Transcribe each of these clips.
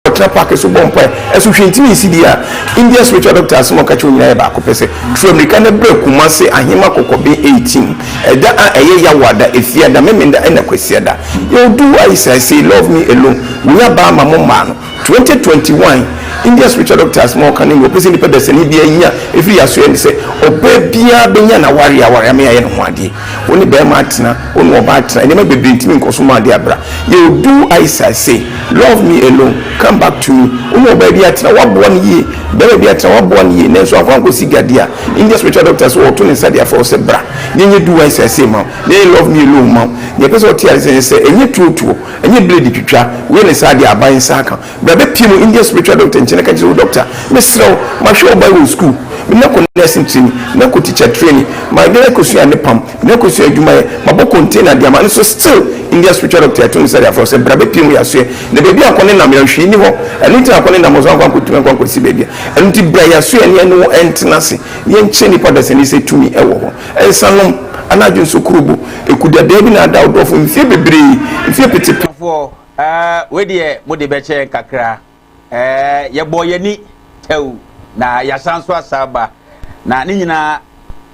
Wɔtena paake so bɔ mpae. Ɛso hwee ntumi nsi bi a India spiritual doctor asɛm a ɔka kyerɛ wɔn nyinaa yɛ baako pɛ sɛ, Tura mmirika na bra Kumasi Ahema Kɔkɔben Eighteen ɛda a ɛyɛ Yawoada, Efiada, Memenda ɛna Kwasiada. Yɛwɔ Do Why Is I Say Love Me Alone, Wonya Baa Ma Mo Mmaa No, Twenty Twenty One. India spiritual doctor asɛm a ɔka ne nea ɔpɛ sɛ nnipa dasani biara nya firi yɛ asoɛe ne sɛ, Ɔbaa biara bɛnya n'awareɛ aware ama yɛayɛ ne ho adeɛ. Wo ne barima atena, wo ne ɔbaa atena, nneɛma bebree ntumi nkɔ so ma ade abra. Yɛ oduu Aisa se, Love me alone, come back to me. Wo ne ɔbaa bi atena, woaboa no yie, barima bi atena, woaboa no yie, nanso amfa ankɔsi gya di a, India spiritual doctor se ɔreto ne nsa de afrɛ wo sɛ bra, yɛnyɛ duu Aisa se ma wo, yɛnyɛ love me alone ma wo. Nea ɛpɛ sɛ ɔte ase ne sɛ, ɛnyɛ tuotuo, ɛnyɛ blade twitwa, woyɛ no saa de a, aban nsa aka. Bra bɛpie mu Indian spiritual doctor nkyɛn na ka kyerɛ wo dɔkta Mesrɛ wo mahwɛ wo Bible school Menya kɔ nursing training Menya kɔ teacher training My dɛn akɔsua ne pam Menya kɔsua adwumayɛ Mabɔ container de ama no so still Indian spiritual doctor ɛto nsa de afrɛ wo sɛ bra bɛpie mu Yɛasoɛ na baabi a kɔ ne nam yɛ no hwee nni hɔ Ɛno nti na kɔ ne nam hɔ so ankɔ ankɔtumi ankɔ ankɔsi baabi a Ɛno nti bra yɛasoɛ ne yɛne wo ntena ase na yɛnkyerɛ nnipa dasani sɛ tumi wɔ hɔ Nsa nom anaa dwonsokuro bɔ Ɛku dadaa bi na ada wo dɔfo mfeɛ bebree Mfeɛ pete pete. Ɔfoɔ, Ɛɛ, wei deɛ mode bɛkyɛ yɛn kakra. Ɛɛ, yɛbɔɔ yɛn ani tɛw na yɛasan nso asa aba. Na ne nyinaa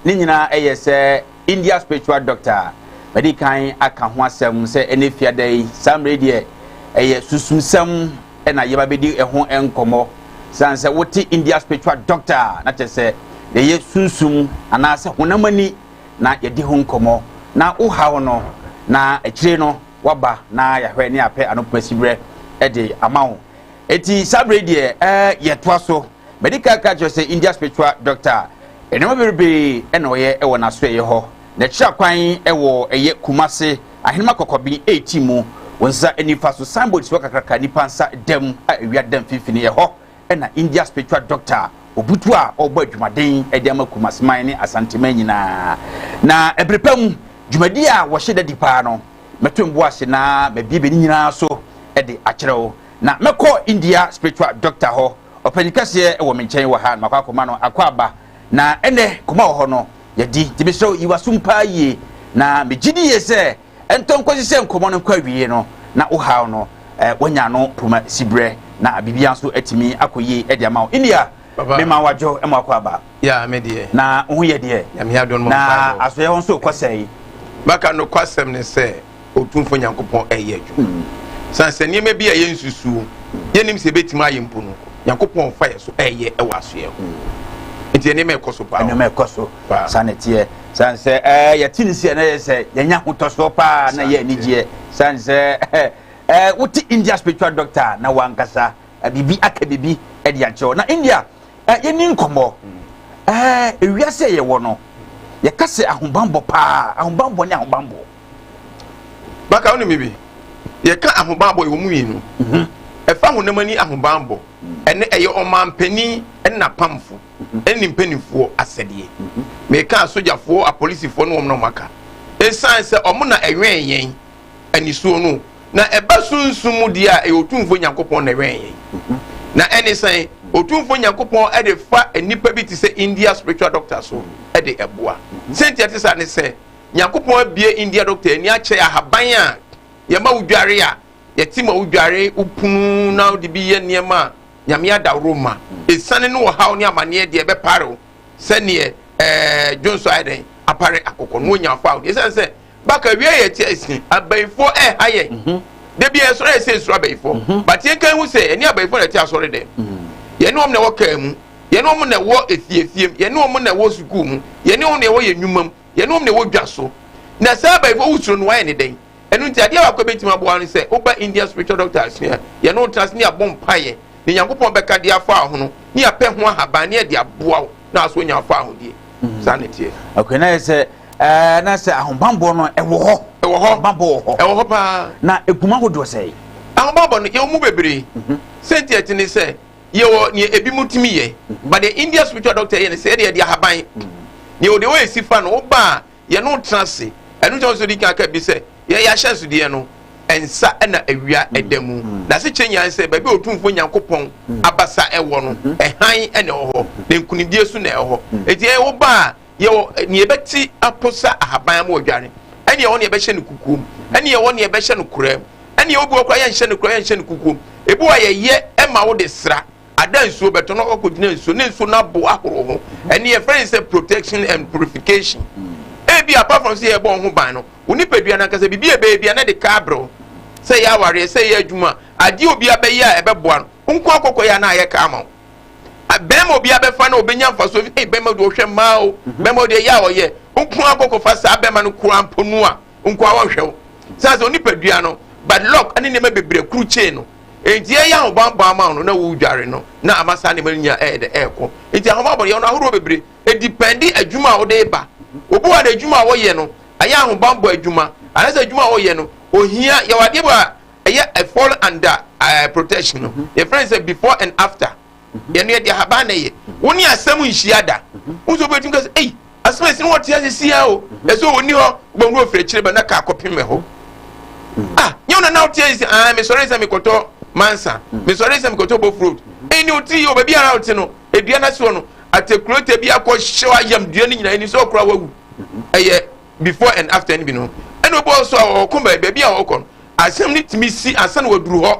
ne nyinaa yɛ sɛ India spiritual doctor a madi kan aka ho asɛm sɛ ɛnɛ fiada yi saa mmerɛ deɛ ɛyɛ susumsɛm na yɛba bɛdi ɛho nkɔmmɔ. Sane sɛ wote India spiritual doctor a na kyɛ sɛ yɛyɛ sunsum anaasɛ honam ani na yɛdi ho nkɔmmɔ na wohaw no na akyire no waba na yɛahwɛ ne apɛ anɔpa siberɛ de ama wo eti saa berɛ deɛ ɛɛ yɛtoa so mɛdi kan ka kyerɛ sɛ india spiritual doctor nneɛma bebrebe na ɔyɛ wɔ n'asoɛyɛ hɔ na kyerɛ kwan wɔ ɛyɛ kumase ahenema kɔkɔben eti mu wɔn nsa nifa so signboard si hɔ kakraka nipa nsa dɛm a ewia dɛm finfini ɛhɔ na India Spiritual Doctor a obutuw a ɔrebɔ adwumaden de ama Kumasi man ne Asante man nyinaa. Na bere pa mu, dwumadi a wɔhyɛ da di paa no, mɛto mbo ase na mabiebie ne nyinaa so de akyerɛ wo. Na mɛkɔ India Spiritual Doctor hɔ, ɔpanyin kɛseɛ wɔ me nkyɛn wɔ ha, na makɔ akɔma no akwaaba. Na ɛnnɛ, kɔm a ɛwɔ hɔ no, yɛadi. Enti mesrɛ wo, yi w'asom paa yie, na megye di yie sɛ ɛntɔ nkɔsi sɛ nkɔmmɔ no nkɔ awiei no na wo haw no eh, wanya ano poma siberɛ na biribiara nso atumi akɔ yie de ama wo india mema wadwo ma wakɔ aba na wo ho yɛ deɛ na asoɛ hɔ nso kɔ sɛe maka nokwasɛm ne sɛ ɔtumfo nyankopɔn ɛyɛ adwuma hmm. sane sɛ nneɛma bi a yɛnsusuo yɛnim sɛ ɛbɛtumi ayɛ mpo no nyankopɔn fa yɛ so ɛyɛ ɛwɔ asoɛ ho hmm. nti nneɛma ɛkɔ so paa nneɛma ɛkɔ so saa na ɛteɛ San sɛ ɛɛ yɛte ne sɛ na yɛ sɛ yɛnya ahotɔsoɔ paa na yɛ anigyeɛ san sɛ ɛɛ wote India spiritual doctor na wankasa biribi aka biribi de akyerɛw na India ɛɛ yɛni nkɔmmɔ ɛɛ ewiase a yɛwɔ no yɛka sɛ ahobanbɔ paa ahobanbɔ ne ahobanbɔ. Baka wo ne me bi yɛka ahobanbɔ yɛwɔ mu mmienu mhm. ɛfa honam ani ahobanbɔ mhm. ɛne ɛyɛ ɔmanpanin ɛne n'apamfo. nni mpanimfoɔ asɛdeɛ. Meka asogyafoɔ, apolisifoɔ ne wɔn na wɔaka. Esiane sɛ wɔn na ɛwɛn yɛn anisuo no, na ɛba sunsum mu deɛ a, ɛyɛ Otumfoɔ Nyankopɔn na ɛwɛn yɛn. Na ɛne sɛn? Otumfoɔ Nyankopɔn de fa nnipa bi te sɛ India spiritual doctor so de boa. Sɛnti ɛte saa ne sɛ, Nyankopɔn abue India doctor ani akyɛ ahaban a yɛma wodware a, yɛte ma wodware, wopunu na wode bi yɛ nneɛma a, Nyame adaworo mma. Esiane ne ɔhaw ne amaneɛ deɛ ɛbɛpare wo sɛdeɛ ɛɛ dwonso ayɛ dɛn apare akokɔ no wɔnya afa wo. Esiane sɛ baka awia yɛ ti asi abayifoɔ ɛha yɛn. Mhm. Da bi ɛsɔre ayɛ sɛ esuro abayifoɔ. Mhm. But yɛn kan hu sɛ ɛne abayifoɔ na ɛte asɔre dɛm. Mhm. Yɛne wɔn na ɛwɔ kaa mu. Yɛne wɔn na ɛwɔ efiefiam. Yɛne wɔn na ɛwɔ sukuu mu. Yɛne wɔn na ɛwɔ yɛn nnwuma mu. Yɛne wɔn na ɛwɔ dwa so. Na saa abayifoɔ wosuro no wɔayɛ ne dɛn? Ɛno nti, adeɛ baako a ɛbɛtumi aboa wo ne sɛ woba Indian Spiritual Doctor asua a, yɛne wo tena ase ne yɛabɔ mpaeɛ na Nyankopɔn bɛka de afa wo ho no ne yɛapɛ ho ahaban ne yɛde aboa wo na asɔ nya afa ahodeɛ. Mm. Saa na ɛteɛ. Okay, na yɛ sɛ ɛɛ na sɛ ahobanbɔ no ɛwɔ hɔ. Ɛwɔ hɔ. Ahobanbɔ wɔ hɔ. Ɛwɔ hɔ paa. Na eguma ahodoɔ sɛɛ. Ahobanbɔ no yɛwɔ mu bebree. Mhm. Sɛnti ɛte ne sɛ yɛwɔ nea ebi mu tumi yɛ. Mhm. But the India spiritual doctor yɛ ne sɛ ɛde ɛde ahaban. Mhm. Nea ɔde wɔyɛ si fa no, wobaa yɛne wo tena ase. Ɛno nti na ɔsɛ odi kan ka bi sɛ yɛn yɛn ahyɛnsodeɛ no nsa na awia da mu. N'asekyerɛ nyinaa ne sɛ baabi a Otumfoɔ Nyankopɔn abasa wɔ no, hann na ɛwɔ hɔ, na nkunimdie nso na ɛwɔ hɔ. Enti yɛn woba a yɛwɔ nea yɛbɛte aposa ahaban ama wadware, ɛne yɛwɔ nea yɛbɛhyɛ no kukuom, ɛne yɛwɔ nea yɛbɛhyɛ no koraa mu, ɛne yɛwɔ bi wɔ koraa yɛnhyɛ no koraa yɛnhyɛ no kukuom. Ebi wɔ a yɛyɛ ma wo de sra. Ada nsuo bɛtɔ na wakɔgyina nsuo ne nsuo no abo ahorow ho ɛne yɛfrɛ ne sɛ protection and purification ebi apart from sɛ yɛbɔ ho ban no wo nipadua no ankasa biribi a ɛbɛyɛ bia na de ka abrɛw sɛ yɛ awareɛ sɛ yɛ adwuma adeɛ obi abɛyɛ a ɛbɛboa no wo nko akɔkɔ yɛ a na ayɛ ka ama wo bɛrima obi abɛfa na obɛnya mfasoɔ fi ei bɛrima deɛ ɔhwɛ mmaa o bɛrima deɛ yɛ a ɔyɛ wo nko akɔkɔfa saa bɛrima no koraa mpo no a nko a wɔnhwɛ wo saa sɛ onipadua no bad luck ne nneɛma bebree kuru kyee no nti ɛyɛ ahobanbɔ ama wo no na wodware no na ama saa nneɛma no nyinaa ɛyɛ dɛ ɛrekɔ nti ahobanbɔ yɛ no ahorow bebree edipɛndi adwuma a wode ba obi wɔ de adwuma a wɔyɛ no ɛyɛ ahobanbɔ adwuma anasɛ adwuma a wɔyɛ no ohia yɛwɔ adeɛ bi a ɛyɛ ɛfɔl anda ɛɛ protection no yɛfrɛ no sɛ before and after yɛn no yɛde ahaban na ɛyɛ wo ne asɛm nhyia da wo nso wobɛtumi ka sɛ ei asɛm ɛsi ne wɔte ase sia o ɛsɛ ɔni hɔ wobɛhu ɔfiri akyire ba na ka akɔpem hɔ ah nyɛ wo na na wote ase sɛ ah mesɔre sɛ mekɔtɔ mansa mesɔre sɛ mekɔtɔ bof road ɛni o ti o baabi ara wote no edua no ase hɔ no atekurota bi akɔ hyɛ ayam dua no nyinaa ɛni sɛ ɔkora wawu ɛyɛ before and after no bi no ɛna obi ɔsɔ a ɔkɔ baabi a ɔkɔ no asɛm no tumi si ansa na waduru hɔ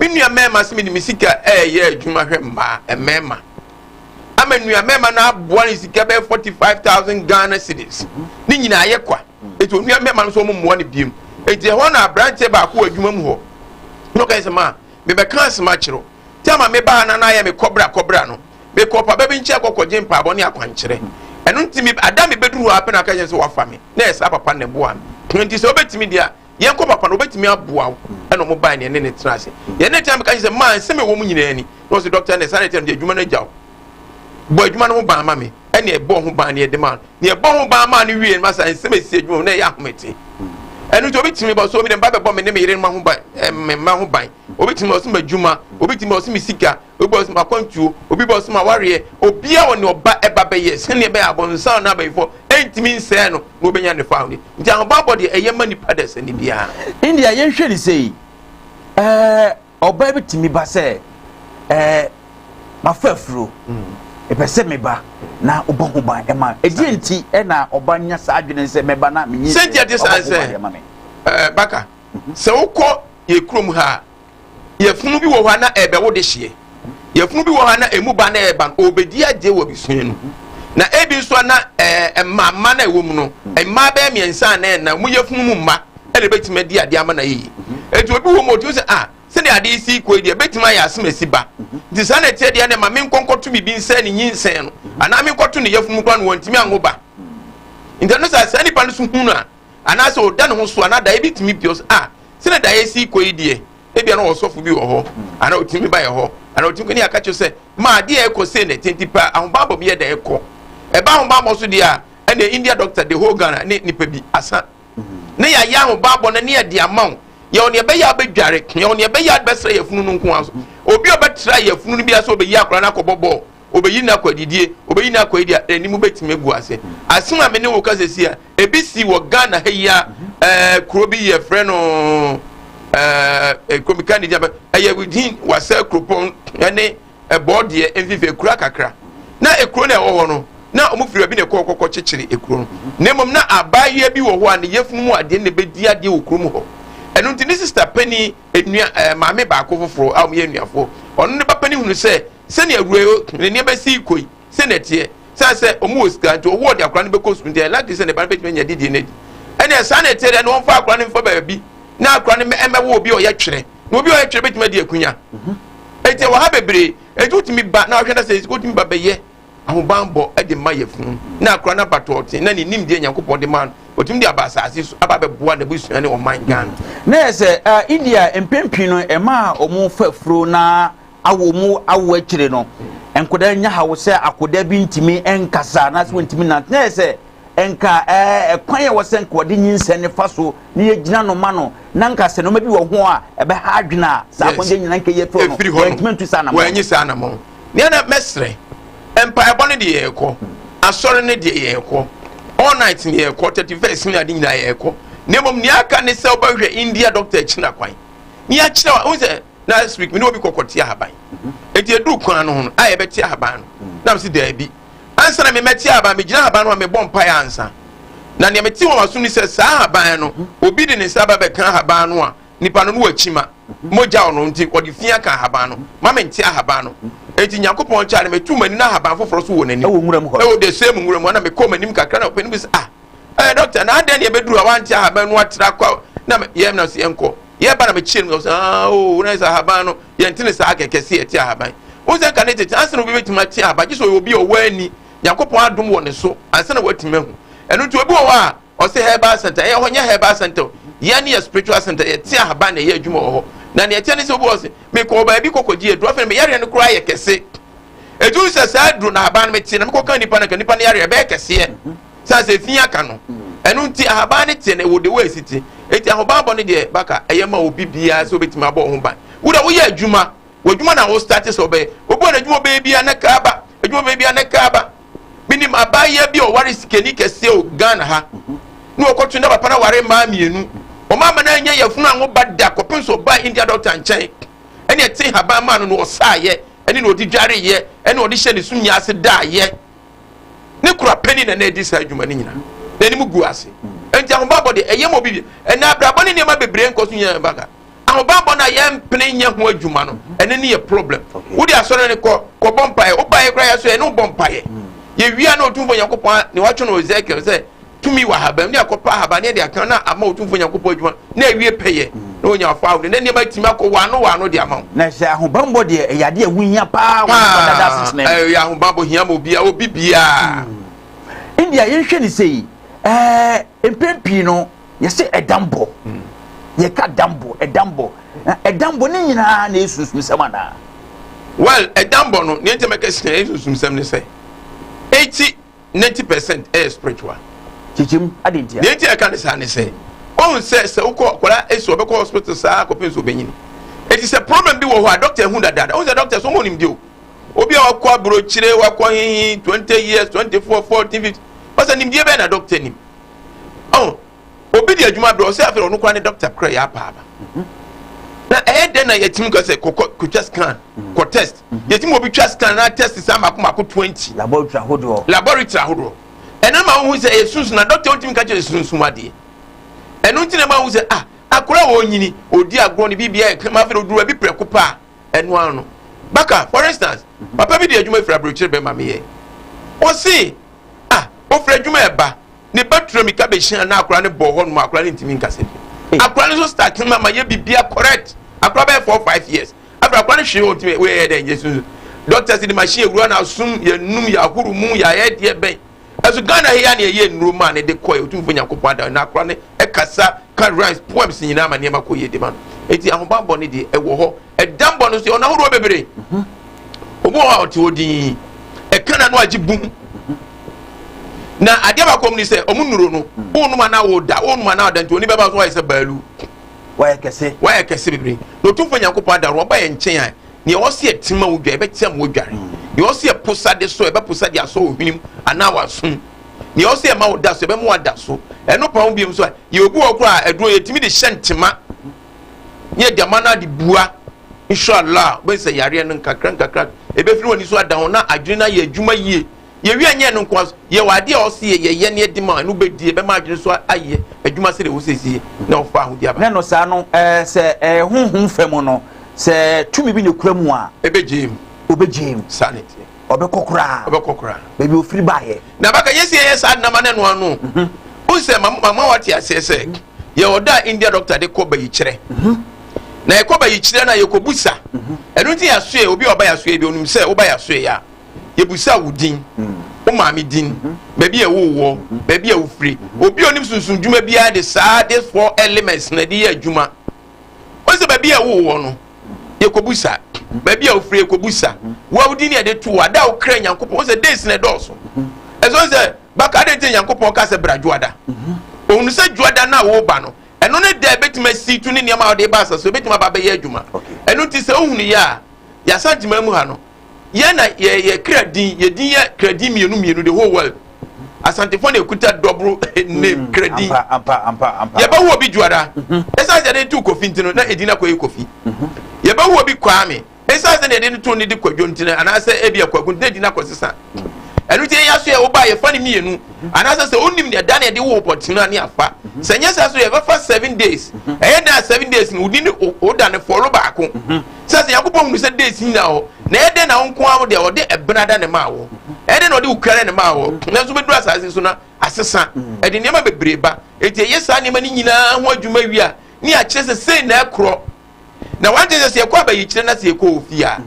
Me nua mmarima sɛ mede me sika ɛreyɛ adwuma hwɛ mmaa mmarima ama nua mmarima no aboa ne sika bɛyɛ forty five thousand Ghana cedis ne nyinaa yɛ kwa eti onua mmarima no nso wɔn mmoa ne biem eti ɛhɔ na aberanteɛ baako wɔ adwuma mu hɔ na ɔka sɛ maa mebɛka asɛm akyerɛw tama mebaa na n'ayɛ me kɔbra kɔbra no mekɔ papa bi nkyɛn kɔkɔgye mpaabɔ ne akwankyerɛ ɛno nti me ada mebɛduru hɔ apɛ na aka kyɛn sɛ wafa me na ɛsaa papa na ɛboa me nti sɛ wobɛtumi deɛ a yɛn kɔ papa no obetumi aboa wo ɛna ɔmo baa yɛn ne ne tena ase yɛn ne tena mi ka kyerɛ sɛ maa nsɛm ɛwɔ mu nyinaa ni na ɔsɛ dɔkta ne saa ne tena mi adwuma no agya wo bɔ adwuma no ho ban ma mi ɛna ɛbɔ ho ban ne ɛde maa ne ɛbɔ ho ban maa ne wie no ma saa nsɛm esi adwuma mu na ɛyɛ ahomete ɛno nti obi tumi bɔ so obi dɛm ba bɛbɔ me ne me yere ma ho ban ɛmɛ ma ho ban obi tumi ɔsɛ ma adwuma obi tumi ɔsɛ me sika obi bɔsoma akwantuo obi bɔsoma awareɛ obia wɔ ne ɔba ɛba bɛyɛ sɛnea ɛbɛyɛ abɔnsan no abayifɔ ɛntumi nsɛɛ no na obɛnya ne fawo ne nti ahobaabɔ deɛ ɛyɛ ma nipa dɛ sɛne biara india yɛnhwɛ ne sei ɛɛ ɔbaa bi tumi ba sɛ ɛɛ mafa afuro ɛpɛ sɛ meba na ɔbɔ ho ban ɛma ɛdeɛ nti ɛna ɔba nya saa adwene sɛ mɛba na menyi sɛ ɔbɔ ho ban ɛma me baka sɛ wokɔ yɛ kurom ha Yafunu bi wɔ hɔ a na ɛrebɛwo dehyeɛ. Yafunu bi wɔ hɔ a na emu ba na ɛreba no, ɔrebɛdi agye wɔ abusua no mu. Na ebi nso a na ɛɛ mmaamma na ɛwɔ mu no, mmaa bɛyɛ mmiɛnsa a na ɛna wɔn yafunu mu mma na ɛbɛtumi adi adeɛ ama no ayɛ yie. Eti obi wɔ mu ɔtumi sɛ ah sɛdeɛ adeɛ yi si kɔ yi deɛ ɛbɛtumi ayɛ asemasi ba. Nti saa na ɛteɛ deɛ na ɛma menkɔ nkɔto biribi nsɛe ne nyinsɛn no anaa menkɔto ne yafunu mu koraa no wɔntumi anwo ba. Nti ɛno saa saa nipa no so hunu a anaasɛ ɔda ne ho so anaa daeɛ bi tumi pio a sɛnɛ daeɛ si kɔ yi deɛ ebia na ɔsɔfo bi wɔ hɔ anaa ɔtumi ba yɛ hɔ anaa ɔtumi ne aka kyerɛ sɛ ma adeɛ ɛkɔ sei na ɛte nti paa ahobammɔ bi yɛ da ɛkɔ ɛba ahobammɔ so deɛ a ɛna india doctor de whole ghana ne nipa bi asa ne yɛayɛ ahobammɔ no ne yɛde ama wo yɛwɔ nea ɛbɛyɛ abɛdware yɛwɔ nea ɛbɛyɛ abɛsrɛ yɛfunu no nko ara so obi a ɔbɛtra yɛfunu no bi ase ɔbɛyi akora no akɔbɔ bɔɔl obeyi no akɔ adidie, obeyi no akɔ yi deɛ anim bɛtumi agu ase. Asem a me ne wo ka sɛsi a, ebi si wɔ Ghana ha yi a ɛɛ kuro bi yɛ frɛ no ɛɛ kuro bi ka ne gya bɛ ɛyɛ within wasa kuropɔn ɛne ɛbɔɔ deɛ mfimfini ekura kakra na ekuro na ɛwɔ hɔ no na wɔn firi baabi na ɛkɔ kɔkɔ kyekyere ekuro no na mmom na abaayewa bi wɔ hɔ a ne yɛfunu mu adeɛ na ebedi adeɛ wɔ kurom hɔ ɛno nti ne sista panyin enua ɛɛ maame baako foforɔ a wɔn yɛ nuafoɔ ɔno ne ba panyin hunu sɛ Sɛnea Roe ne nea bɛsi kɔ yi, sɛnea ɛteɛ, sɛ sɛ wɔn wɔ sika nti wɔwɔ ɔde akora no bɛkɔ sukuu nti ɛyɛ likely sɛ ne ba no bɛtumi anya didie no adi. Ɛnneɛ saa na ɛteɛ dɛ na wɔmfa akora no mfa baabi na akora no mmɛwɔ obi a ɔyɛ twerɛ. Na obi a ɔyɛ twerɛ bɛtumi adi akunya. Enti ɛwɔ ha bebree, enti wotumi ba na ɔhwɛ no sɛ wotumi ba bɛyɛ ahobanbɔ de ma yɛfunu na akora no aba tɔɔten na ne nimdeɛ Nyankopɔn de ma no wɔtumi de aba asase so aba bɛboa n'abusua ne ɔman Ghana. Na yɛ sɛ India mpempii no ɛma wɔn fa furo na a wɔn awo akyire no nkwadaa nya haw sɛ akwadaa bi ntumi nkasa anaasɛ wɔntumi nante na yɛ sɛ nka ɛɛ ɛkwan yɛ wɔsɛ nka wɔde nyinsɛn ne fa so ne yɛ gyina no ma no na nka sɛ nneɛma bi wɔ ho a ɛbɛha adwene a saa akɔnjɛ nyina nka yɛ fɛ no wɔntumi ntu saa anamɔ wɔnyi saa anamɔ nea na mɛsrɛ mpaebɔ no deɛ yɛkɔ asɔre no deɛ yɛkɔ all night ne yɛkɔ thirty first ne ade nyinaa yɛkɔ na mmom nea aka ne sɛ wobɛhwɛ india doctor akyina kwan ne akyerɛ wa wo sɛ na last week me ne obi kɔkɔ te ahaban eti eduru kwan no ho no a yɛbɛ te ahaban no mm. na me si daabi ansa na me mɛ te ahaban me gyina ahaban no a me bɔ mpae ansa na nea me te wɔn asom ni sɛ saa ahaban no mm-hmm. obi de ne nsa ba bɛka ahaban no a nipa no no wɔ akyima mm-hmm. mogya ɔno nti ɔde fi aka ahaban no mm-hmm. ma me nte ahaban no eti nyankopɔn kyɛ a na me tu m'ani na ahaban foforɔ so wɔ n'anim ɛwɔ nwura mu hɔ ɛwɔ de se mu nwura mu ɛna me kɔ m'anim kakra na ɔpɛ no bi sɛ ah ɛɛ dɔkta na adɛn na yɛbɛduru a wante ahaban no atra kɔ na yɛm na se yɛnkɔ yɛ ba na me kyerɛ mu sɛ aa o oh, na sɛ ahaban no yɛn ti ne saa kɛkɛ si ɛte ahaban o sɛ nka ne tete ansa na obi bɛtumi ate ahaban gye sɛ ɔyɛ obi a ɔwɔ ani nyankopɔn adom wɔ ne so ansa na watumi ahu ɛno nti obi wɔ hɔ a ɔsɛ herbal center ɛyɛ hɔ nyɛ herbal center yɛn ne yɛ spiritual center yɛte ahaban na ɛyɛ adwuma wɔ hɔ na nea ɛteɛ ne sɛ obi wɔ se mekɔ baabi kɔkɔgye aduro afei meyareɛ no koraa yɛ kɛse ɛtumi sɛ saa aduro na ahaban no mete na mekɔka nnipa no ka nnipa no yareɛ bɛyɛ kɛseɛ sɛ sɛ fi aka no ɛno nti ahaban no teɛ na ɛwɔ de wɔ ɛsi te ɛti ahobanbɔ no deɛ baka ɛyɛ ma obi biara sɛ obɛtumi abɔ ho ban wo dɛ woyɛ adwuma w'adwuma na wo starte sɛ ɔbɛyɛ obi wɔ n'adwuma ɔbɛyɛ biara ne kaa ba adwuma ɔbɛyɛ biara ne kaa ba menim abaayɛ bi a ɔware sikani kɛseɛ o ghana ha ne ɔkɔtwe na papa no aware mmaa mmienu ɔma ama no anyɛ yɛfunu anwo ba da kɔpem sɛ ɔbaa india dɔkta nkyɛn ɛne ɛte haban maa no na ɔsaayɛ ɛne na ɔde dwareyɛ ɛne ɔde hyɛ ne so nyaase daayɛ ne kora panyin na na edi saa adwuma no nyinaa. N'anim gu ase. Enti ahobammɔ de, ɛyɛ ma obi bi. Ɛnna abrabɔ ne nneɛma bebree nkɔ so nyinaa baga. Ahobammɔ no a yɛmpene nyɛ ho adwuma no, ɛno ne yɛ problem. Wode asɔre no kɔ, kɔbɔ mpaeɛ. Wobaeɛ koraa yɛ so yɛ ne wobɔ mpaeɛ. Yɛwia na Otumfoɔ Nyankopɔn ne watwe no Ezekiel sɛ tumi wɔ ahaban ne akɔpa ahaban ne ɛde aka na ama otumfoɔ nyankopɔn adwuma na awie pɛyɛ na onya ɔfa ahodoɔ na nneɛma atumi akɔ waano waano de ama wo. na sɛ ahobanbɔ deɛ ɛyɛ adeɛ a ɛho hia paa wɔ nipa dada asetena mu. ɛyɛ ahobanbɔ hia ma obiara obi biara. ɛnni a yɛnhwɛ ne sɛ yi ɛɛ mpɛn pii no yɛsɛ ɛdambɔ yɛka dambɔ ɛdambɔ ɛdambɔ ne nyinaa na esunsum sɛm anaa. well ɛdambɔ no nea nkyɛn mɛka si na esunsum sɛm ne sɛ eti ninety percent ɛyɛ spiritual. kyekyem adi ntia. nea eti ɛka ne saa ne sɛ ɔn sɛ sɛ wokɔ akwadaa esi ɔbɛkɔ hospital saa akɔpem nso ɔbɛnyin eti sɛ problem bi wɔ hɔ a doctor ehu dadaada ɔn sɛ doctor so ɔmo nimdi o obi a wakɔ aburokyire wakɔ hehe twenty years twenty four fourteen fifteen ɔsɛ nimdie bɛyɛ na doctor nim ɔn. obi de adwuma brɛ ɔsɛ afei ɔno koraa ne dɔkta kora yɛ apa aba na ɛyɛ dɛn na yɛtumi ka sɛ kɔkɔ kɔtwa scan kɔ test yɛtumi obi twa scan na test saa mako mako twenty laboratory ahodoɔ laboratory ahodoɔ ɛno ma wohu sɛ ɛyɛ sunsun na dɔkta ntumi ka kyerɛ sunsun adeɛ ɛno nti na ma wohu sɛ ah akora a wɔnyini ɔdi agorɔ ne biribiara ɛkama afei ɔduru ɛbi prɛko paa ɛno ara no baka for instance mhm. papa bi de adwuma firi aburokyire bɛn ma meyɛ ɔse ah ɔfiri adwuma ɛba ne ba tura mika bɛhyia na akora ne bɔɔ hɔ nom akora ne ntumi nkasa bi akora ne so start ma ma yɛ bibia correct akora bɛyɛ four five years afei akora ne hwee ɔntumi wɔyɛ dɛ nyɛ sunsun doctors de machine ewura na asum yɛ num yɛ ahoro mu yɛ ayɛ deɛ bɛn Ɛso Ghana he a na yɛyɛ nnuro maa no de kɔe Otumfo Nyankopɔn ada no akora no kasa ka rhymes poems nyinaa ma nneɛma kɔ yie de ma no enti ahobammɔ no deɛ ɛwɔ hɔ ɛdammɔ no nso yɛwɔ no ahodoɔ bebree obi wɔ hɔ a ɔte hɔ dinn ɛka na no agye bum na adeɛ baako mu ni sɛ ɔmo nnuro no wonom anaa woda wonom anaa woda nti oni bɛba so wayɛ sɛ baalu wayɛ kɛse wayɛ kɛse bebree na Otumfo Nyankopɔn ada no ɔba yɛ nkyɛn a Nea ɔwɔ sɛ ɛte ma wodware, ɛbɛte ama wodware. Nea ɔwɔ sɛ ɛpo sa de so, ɛbɛpo sa de asɔ wo hwenem anaa w'asom. Nea ɔwɔ sɛ ɛma wo da so, ɛbɛma wada so. Ɛno pa ho bio nso a, yɛwɔ bi wɔ hɔ koraa a, aduro yɛtumi de hyɛ ntema na yɛde ama no ade bua. Inshallah, wobɛhu sɛ yareɛ no nkakrankakra ɛbɛfiri w'ani so ada hɔ na adwene no ayɛ adwuma yie. Yɛwie a, ɛnyɛ ɛno nko ara nso, yɛwɔ adeɛ a ɔse yɛ yɛyɛ na yɛde ma a, ɛno bɛdi, ɛbɛma adwene nso ayɛ adwuma sɛdeɛ ɛwɔ sɛ ɛsi yɛ na ɔfa ahodie aba. Ne no saa no, sɛ ɛyɛ honhom fa mu no, sɛ tumi bi na ɛkura mu a. Ɛbɛgyae mu. Ɔbɛgyae mu. Saa na ɛteɛ. Ɔbɛkɔ koraa. Ɔbɛkɔ koraa. Baabi ɔfiri baeɛ. Na bɛka yɛsi yɛyɛ saa nam ano ɛno ano. Wohu sɛ mama wate aseɛ sɛ yɛwɔ ɔda a India dɔkta de kɔ bayikyerɛ. Na yɛkɔ bayikyerɛ no a yɛkɔbu sa. Ɛno nti yɛasoɛ, obi a ɔba yɛasoɛ bi ɔnim sɛ woba yɛasoɛ a. Yɛbisaa wo din, wo maame din, baabi a ɛwoo woɔ, baabi a wofire. Obi a onim sunsun dwuma biara de saa this four elements na ɛde yɛ adwuma. Wɔn sɛ baabi a ɛwoo woɔ no, yɛkɔbu sa. Baabi a wofire yɛkɔbu sa. Wo a wo din ne yɛde to wo, ada a wokra Nyankopɔn. Wɔn sɛ days na ɛdɔɔso. Ɛsɛ sɛ baka adɛn nti Nyankopɔn ka sɛ bra dwoada. Ohun sɛ dwoada no a wɔreba no, ɛno ne da a ebetumi asi tu ne nneɛma a wɔde ba asase so ebetumi aba abɛyɛ adwuma. Ɛno nti sɛ ohun yɛ a, yɛasan gyima mu ha no, Yɛ na yɛ yɛ kra din yɛ din yɛ kra din mmienu mmienu the whole world asantefo na ekuta dɔboro name mm, kra din yɛbɛwo obi juara ɛsan sɛ yɛde to kofi nti no na edin akɔ yɛ kofi yɛbɛwo obi kwaame ɛsan sɛ yɛde to ne de kwadwo nti no anaasɛ ebi akwagu nti na edin akɔ sisan ɛno ti yɛ aso yɛ ɔba yɛfa ne mmienu anaasɛ sɛ onim ne ɛda na yɛde wo pɔtino ani afa sɛ nyɛ sɛ so yɛbɛfa seven days ɛyɛ dan seven days no wodi ne oda ne fɔlo baako. sɛ sɛ nyankopɔn hunu sɛ days nyina hɔ na ɛyɛ dɛn na wo nko ara wo deɛ ɔde ɛbena da ne maa wɔ ɛyɛ dɛn na ɔde wo kura ne maa wɔ nanso bɛduru asase so na asesa ɛde nneɛma bebree ba ɛti ɛyɛ saa nneɛma no nyinaa ho adwuma wie a ne akyerɛ sɛ sei na ɛkorɔ na wante sɛ sɛ yɛkɔ abayikyerɛ na sɛ yɛkɔ ofie a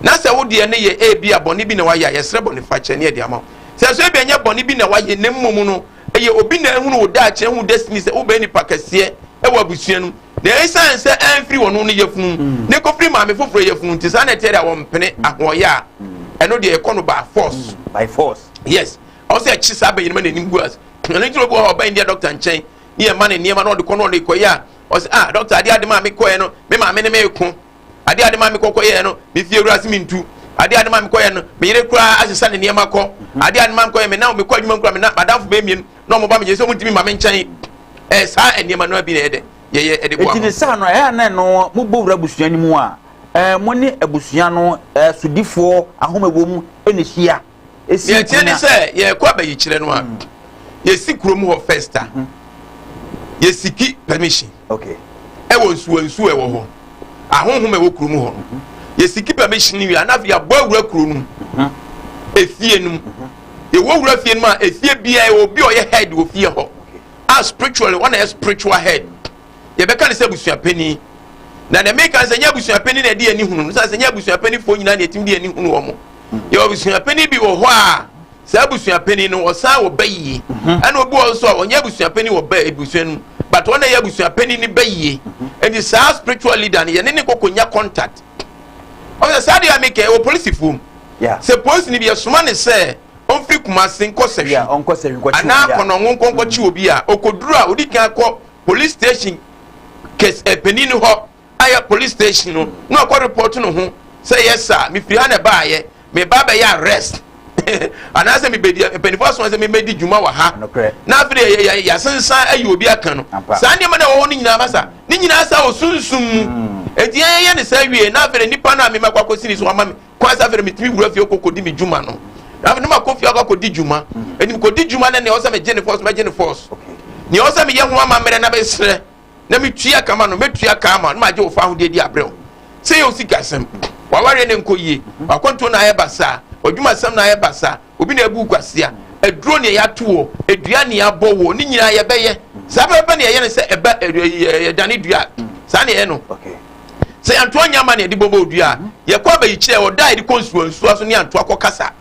na sɛ wo deɛ no yɛ ebi a bɔne bi na wayɛ a yɛsrɛ bɔne fakyɛ ne ɛde ama wo sɛ so ebi ɛnyɛ bɔne bi na wayɛ na mmom no ɛyɛ obi na ehunu wo daakyɛ ho destiny sɛ wobɛyɛ nipa kɛseɛ ɛwɔ abusua no Na esiane sɛ amfiri wɔn no yafunu na ekofiri maame foforɔ yafunu nti, saa na ɛteɛ deɛ wɔmpene ahoɔyɛ a ɛno deɛ yɛkɔ no by force. By force. Yes. Ɔwɔ sɛ ɛkye saa bɛnyinima na anim gu ase. Ɛno nti na obi wɔ hɔ a ɔba India dɔkta nkyɛn ne yɛma ne nneɛma na ɔde kɔ na ɔde kɔyɛ a ɔsɛ ah dɔkta adeɛ ade maa mekɔɛ no me maame ne me ko. Adeɛ a ade ma me kɔ kɔyɛɛ no, me fie wura se mentu. Adeɛ a ade ma me kɔyɛɛ no, me yere koraa asesa ne nneɛma kɔ. Adeɛ a ade ma me kɔyɛɛ, me nna mekɔ adwuma mu koraa, me nna m'adamfo bɛyɛ mmienu na wɔba me gye sɛ wɔntumi mma me nkyɛn. Ɛyɛ saa nneɛma no ara bi na ɛyɛ dɛ yɛyɛ de boa ma. Enti ne saa no, ɛyɛ a na ɛno mobɔ wura abusua no mu a mo ne abusua no sodifoɔ ahome wɔ mu na ɛhyia. si kuro no a. Deɛ ɛteɛ ne sɛ yɛrekɔ abɛyikyerɛ no a yɛsi kurom hɔ first a yɛsiki permission ɛwɔ nsuwa nsuwa ɛwɔ hɔ ahonhom ɛwɔ kurom hɔ no yɛsiki permission no wie a na afei yɛabɔ awura kuro no efie no mu yɛwɔ wura fie no mu a efie biara yɛwɔ obi a ɔyɛ head wɔ fie hɔ a spiritually wɔn na yɛ spiritual head. yɛbɛka no sɛ abusua panyin na deɛ meka sɛ nyɛ abusua panyin na ɛde ani hunu no sɛ nyɛ abusua panimfoɔ nyinaa na ɛtumi de ani hunu wɔn yɛ abusua panyin bi wɔ hɔ a saa abusua panyin no ɔsan wɔ ba yie mhm. ɛna obi wɔ nso a ɔnyɛ abusua panyin wɔ ba abusua no mu but wɔn na ɛyɛ abusua panyin no ba yie ɛdi mhm. saa spiritual leader no yɛne ne koko nya contact ɔsɛ saa deɛ meka ɛwɔ polisifoɔ mu sɛ polisi no bi ɛsoma ne sɛ ɔmfiri kumase nkɔ sɛhwi anaa kɔnɔngo nkɔnkɔkye obi a ɔkɔduru a ɔdi kan kɔ police station kɛs eh, panin no hɔ ayɛ police station no na ɔkɔ report no ho sɛ yɛ saa mefiri ha na ɛbaayɛ meba abɛyɛ arrest anaasɛ mebɛdi mpanimfoɔ aso sɛ memɛdi dwuma wɔ ha na afei yɛasensan ayi obi aka no saa nneɛma na wɔwɔ no nyinaa ma sa ne nyinaa sa wɔ sunsum mu ɛti mm. yɛyɛ ne saa wie na afei nipa no a memɛkɔ akɔsini so wama me kwan sɛ afei no metumi wura fie kɔkɔdi me dwuma no na afei no makɔ fie akɔ akɔdi dwuma ɛnim mm. kɔdi dwuma no nea ɔsɛ megye ne fɔs mɛgye ne fɔs nea ɔsɛ meyɛ ho amammerɛ na mesrɛ na metua kama no mɛtua kama no magye wo fa ahodeɛ di abrɛ wo sɛ yɛ wo sikasɛm wawareɛ ne nkɔ yie wakɔntuo na ayɛ basaa ɔdwumasɛm na ayɛ basaa Obi na abu wo kwasea, aduro nea yɛato wɔ, adua nea abɔ wɔ, ne nyinaa yɛbɛyɛ. Saa pɛpɛpɛ na yɛyɛ no sɛ ɛba yɛdane dua. Saa na yɛyɛ no. Sɛ yɛantoa nyɛ ama na yɛde bɔbɔ odua a, yɛkɔ abayikyerɛ ɔda a yɛde kɔ nsuwa nsuwa so ne antoa kɔ kasa.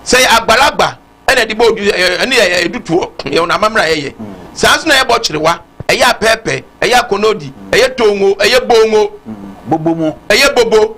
Sɛ yɛ agbalagba ɛna ɛde bɔ odua ɛne yɛ ɛdutoɔ yɛ wɔn amammerɛ a yɛyɛ. Saa nso na yɛ bɔ kyerewa, ɛyɛ apɛɛpɛ, ɛyɛ akɔnɔdi, ɛyɛ tongo, ɛyɛ bongo. Bobo mu. Ɛyɛ bobo.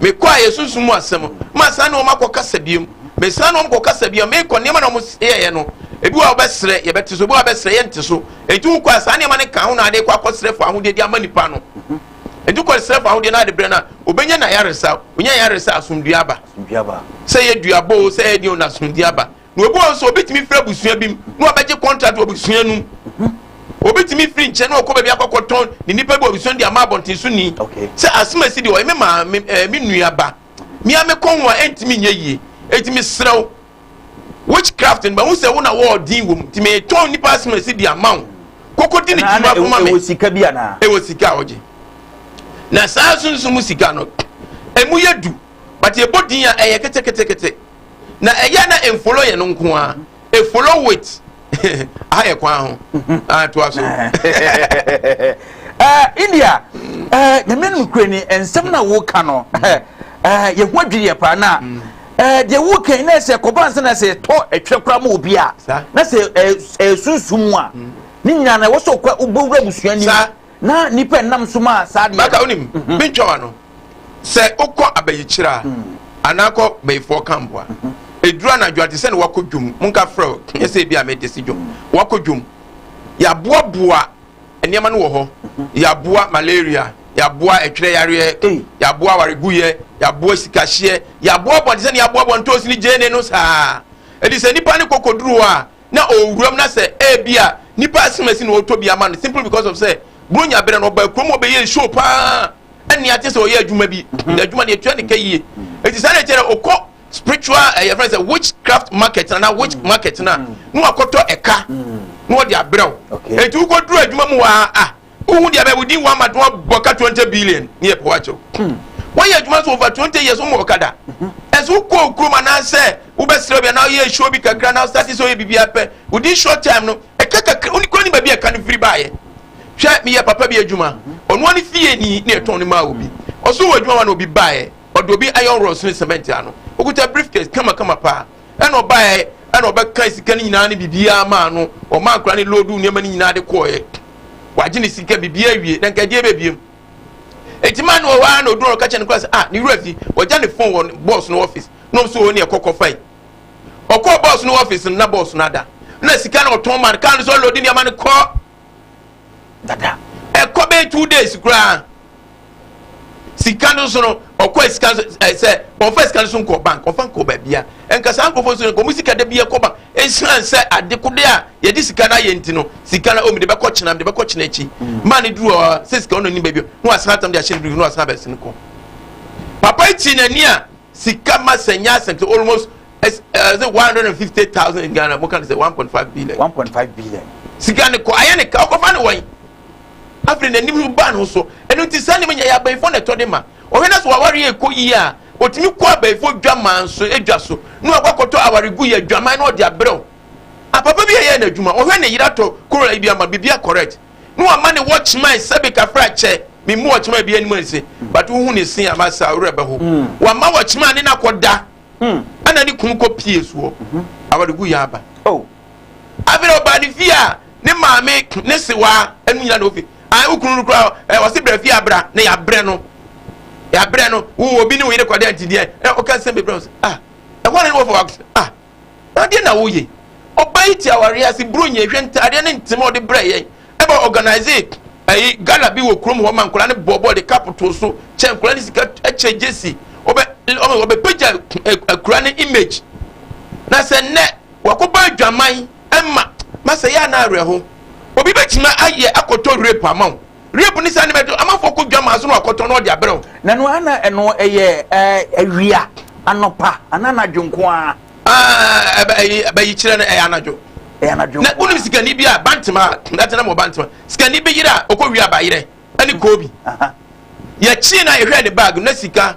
mekɔ a yɛsunsum mu asɛm masan ne wɔn akɔkasa biom mesan ne wɔn kɔkasa biom mekɔ nneɛma na wɔn yɛyɛ no ebi wɔ a wɔbɛsrɛ yɛbɛte so ebi wɔ a wɔbɛsrɛ yɛnte so enti wokɔ a saa nneɛma no ka ho na ade kɔ akɔsrɛ fo ahodeɛ de ama nipa no enti kɔ srɛ fo ahodeɛ no ade brɛ no a obɛnya na yaresa onya yaresa asomdua aba sɛ yɛ duabɔ o sɛ yɛ deɛ o na asomdua aba na obi wɔ nso obetumi firi abusua bi mu na ɔbɛgye kɔntrat wɔ abusua no mu obetumi firi nkyɛn na ɔkɔ baabi akɔkɔ tɔn ne nipa bi wɔ abusua no de ama abɔnten so ni sɛ asomasi deɛ ɔyɛ me maa me ɛɛ me nua ba mia me kɔn ho a ɛntumi nyɛ yie eti me serɛw witchcraft no bɛn ho sɛ wo na wɔɔ din wɔm ti me tɔn nipa asomasi de ama wo koko di ne ti ma koma me ɛwɔ sika bi ana ɛwɔ sika a ɔgye na saa sunsun mu sika no emu yɛ du but ebɔ din a ɛyɛ ketekete. na ɛyɛ a na ɛmfolo yɛ no nko a ɛfolo wit aha yɛ kwan ho atoa so india nyame no kura ni nsɛm na woka no yɛho adwiriɛ paa na deɛ woka na sɛ kɔba nsa na sɛ ɛtɔ ɛtwerɛ koraa ma obi a na sɛ ɛsunsum mu a ne nyinaa na ɛwɔ sɛ wobɛwura busua nim Na nnipa nam so maa saa adeɛ no. Baka wonim, mentwa w'ano. Sɛ wokɔ abayikyerɛ a, anaa kɔ bayifoɔ camp a, ɛduru anadwo a te sɛ ne wakɔ dwom, monka frɛ wo, nyɛ sɛ ebi a mede si dwom, wakɔ dwom. Yɛaboaboa nneɛma no wɔ hɔ, yɛaboa malaria, yɛaboa ɛtwerɛ yareɛ, yɛaboa awareguyɛ, yɛaboa sikahyeɛ, yɛaboaboa te sɛ ne yɛaboaboa ntoosi ne gyeene no saa. Ɛdi sɛ nnipa ne kɔkɔduru hɔ a, na ɔwɔ wuram na sɛ ebia nipa asimasi na ɔtɔ bi ama no simply because of sɛ bronya berɛ no ɔbaa kurom ɔbɛyɛ show paa ɛne ate sɛ ɔyɛ adwuma bi mhm. na adwuma no yɛtua ne ka yie ɛti saa deɛ kyerɛ ɔkɔ spiritual ɛyɛ fɛ sɛ witchcraft market na na witch mhm. market na mhm. na wakɔtɔ ɛka na ɔde abrɛw ɛti wokɔduru adwuma mu waa ah Wohu deɛ bɛ wodi wa ma tɔn bɔ ka twenty billion ne yɛ pɔwa kyɛw. Hmm. Wɔyɛ adwuma so over twenty years wɔn ɔkada. Ɛsɛ mhm. wokɔ okurom anaasɛ wobɛsrɛ bi anaa woyɛ show bi kakra na wosate sɛ woyɛ biribi apɛ. Within short time no ɛka kakra woni kura ne baabi a ɛka no firi baayɛ. Hwɛ meyɛ papa bi adwuma. Ɔno ani fie ni ne ɛtɔn ne maa obi. Ɔso wɔ adwuma wa na obi baayɛ. Ɔde obi iron rods ne cement ano. Okuta briefcase kamakama paa. Ɛna ɔbaeɛ, ɛna ɔbɛka sika no nyinaa ne biribiara maa no. Ɔmaa nkora ne loodu nneɛma no nyinaa de kɔɔeɛ. Wagye ne sika biribiara awie, na nka ɛdeɛ bɛbiem. Enti maa no wɔ hɔ ara na ɔduru ɔka kyɛ no kora sɛ, ah, ne wura fi, wɔgya ne fon wɔ bɔɔs no ɔfis. Nom so wɔ ne ɛkɔ kɔfae. Ɔkɔɔ bɔɔs no ɔfis no, na bɔɔs no ada. Na sika no ɔtɔn maa no, kaa no sɛ ɔlɔdi nneɛma no kɔ. dada ɛkɔ bɛyɛ two days koraa sika no nso no ɔkɔ sika sɛ ɔfa sika no so nkɔ bank ɔfa nkɔ baabia nka saa nkurɔfoɔ nso no nkɔmu sika da bi ɛkɔ bank ɛsiane sɛ adekode a yɛde sika no ayɛ nti no sika no ɔmu de bɛkɔ kyena de bɛkɔ kyena akyi mm. maa ne duru hɔ sɛ sika ɔno ni baabi na wasan atam de ahyɛ ne duru na wasan abɛsi no kɔ papa yi ti n'ani a sika ma sɛ nyɛ asɛm sɛ almost ɛs ɛsɛ one hundred and fifty thousand in ghana mo ka ne sɛ one point five billion one point five billion sika ne kɔ ayɛ ne ka ɔkɔfa ne wɔn afei n'anim no ba ne ho so ɛno ti saa nneɛma nyɛ yɛ abɛnfo na ɛtɔ de ma ɔhwɛ na sɛ wawari yɛ kɔ yie a otumi kɔ abɛnfo dwaman so edwa so na wakɔ akɔtɔ awari gu yɛ dwaman na ɔde abrɛw apapa bi a yɛ n'adwuma ɔhwɛ ne yere atɔ koro ebi ama bibi akɔrɛt na wama ne wɔ kyemae sɛbe kafra kyɛ memu wɔ kyemae bi anim anse but wohu ne se ama saa wura bɛ ho hmm. wama wɔ kyemae ne nakɔda hmm. ɛna ne kunu kɔ pie soɔ mhm. awaregu yɛ aba oh. afei ɔbaa ne fie a ne maame ne sewaa ɛnu nyina na ofi a wo kunu no kura ɛ ɔse brɛ fie abra na yɛabrɛ no yɛabrɛ no wo obi ne wo yere kɔdɛ ntideɛ ɛ ɔka sɛ bebrɛ ah ɛhɔ ne ne wɔ fɔ ah Adeɛ na wo ye. Ɔbaa yi te awareɛ ase bro nyɛ hwɛ ntaadeɛ ne ntem a ɔde brɛ yɛn ɛba organise ɛyi gala bi wɔ kurom hɔ ma nkwadaa ne bɔɔbɔɔ de cup too so kyɛ nkwadaa ne sika ɛkyɛ gyesi ɔbɛ ɔbɛ ɔbɛ pagya akura ne image na sɛ nnɛ wakɔbɔ adwaman ɛma ma sɛ yɛ anaa awerɛho obi bɛtumi ayɛ akɔtɔ rape ama wo. Rape ne saa nneɛma ɛto amanfoɔ kɔ dwa maa so na wakɔtɔ na ɔde abrɛ wo. Na no ana ɛno ɛyɛ ɛɛ awia anɔpa ana anadwo nko ara. Ah ɛbɛ ɛyi ɛbɛyi kyerɛ no ɛyɛ anadwo. Ɛyɛ anadwo nko ara. Na wonim sikani bi a bantama ɛtena mu bantama sikani bi yere a ɔkɔ wia abayerɛ ɛne koobi. Yɛkyi na yɛhwɛ ne bag na sika.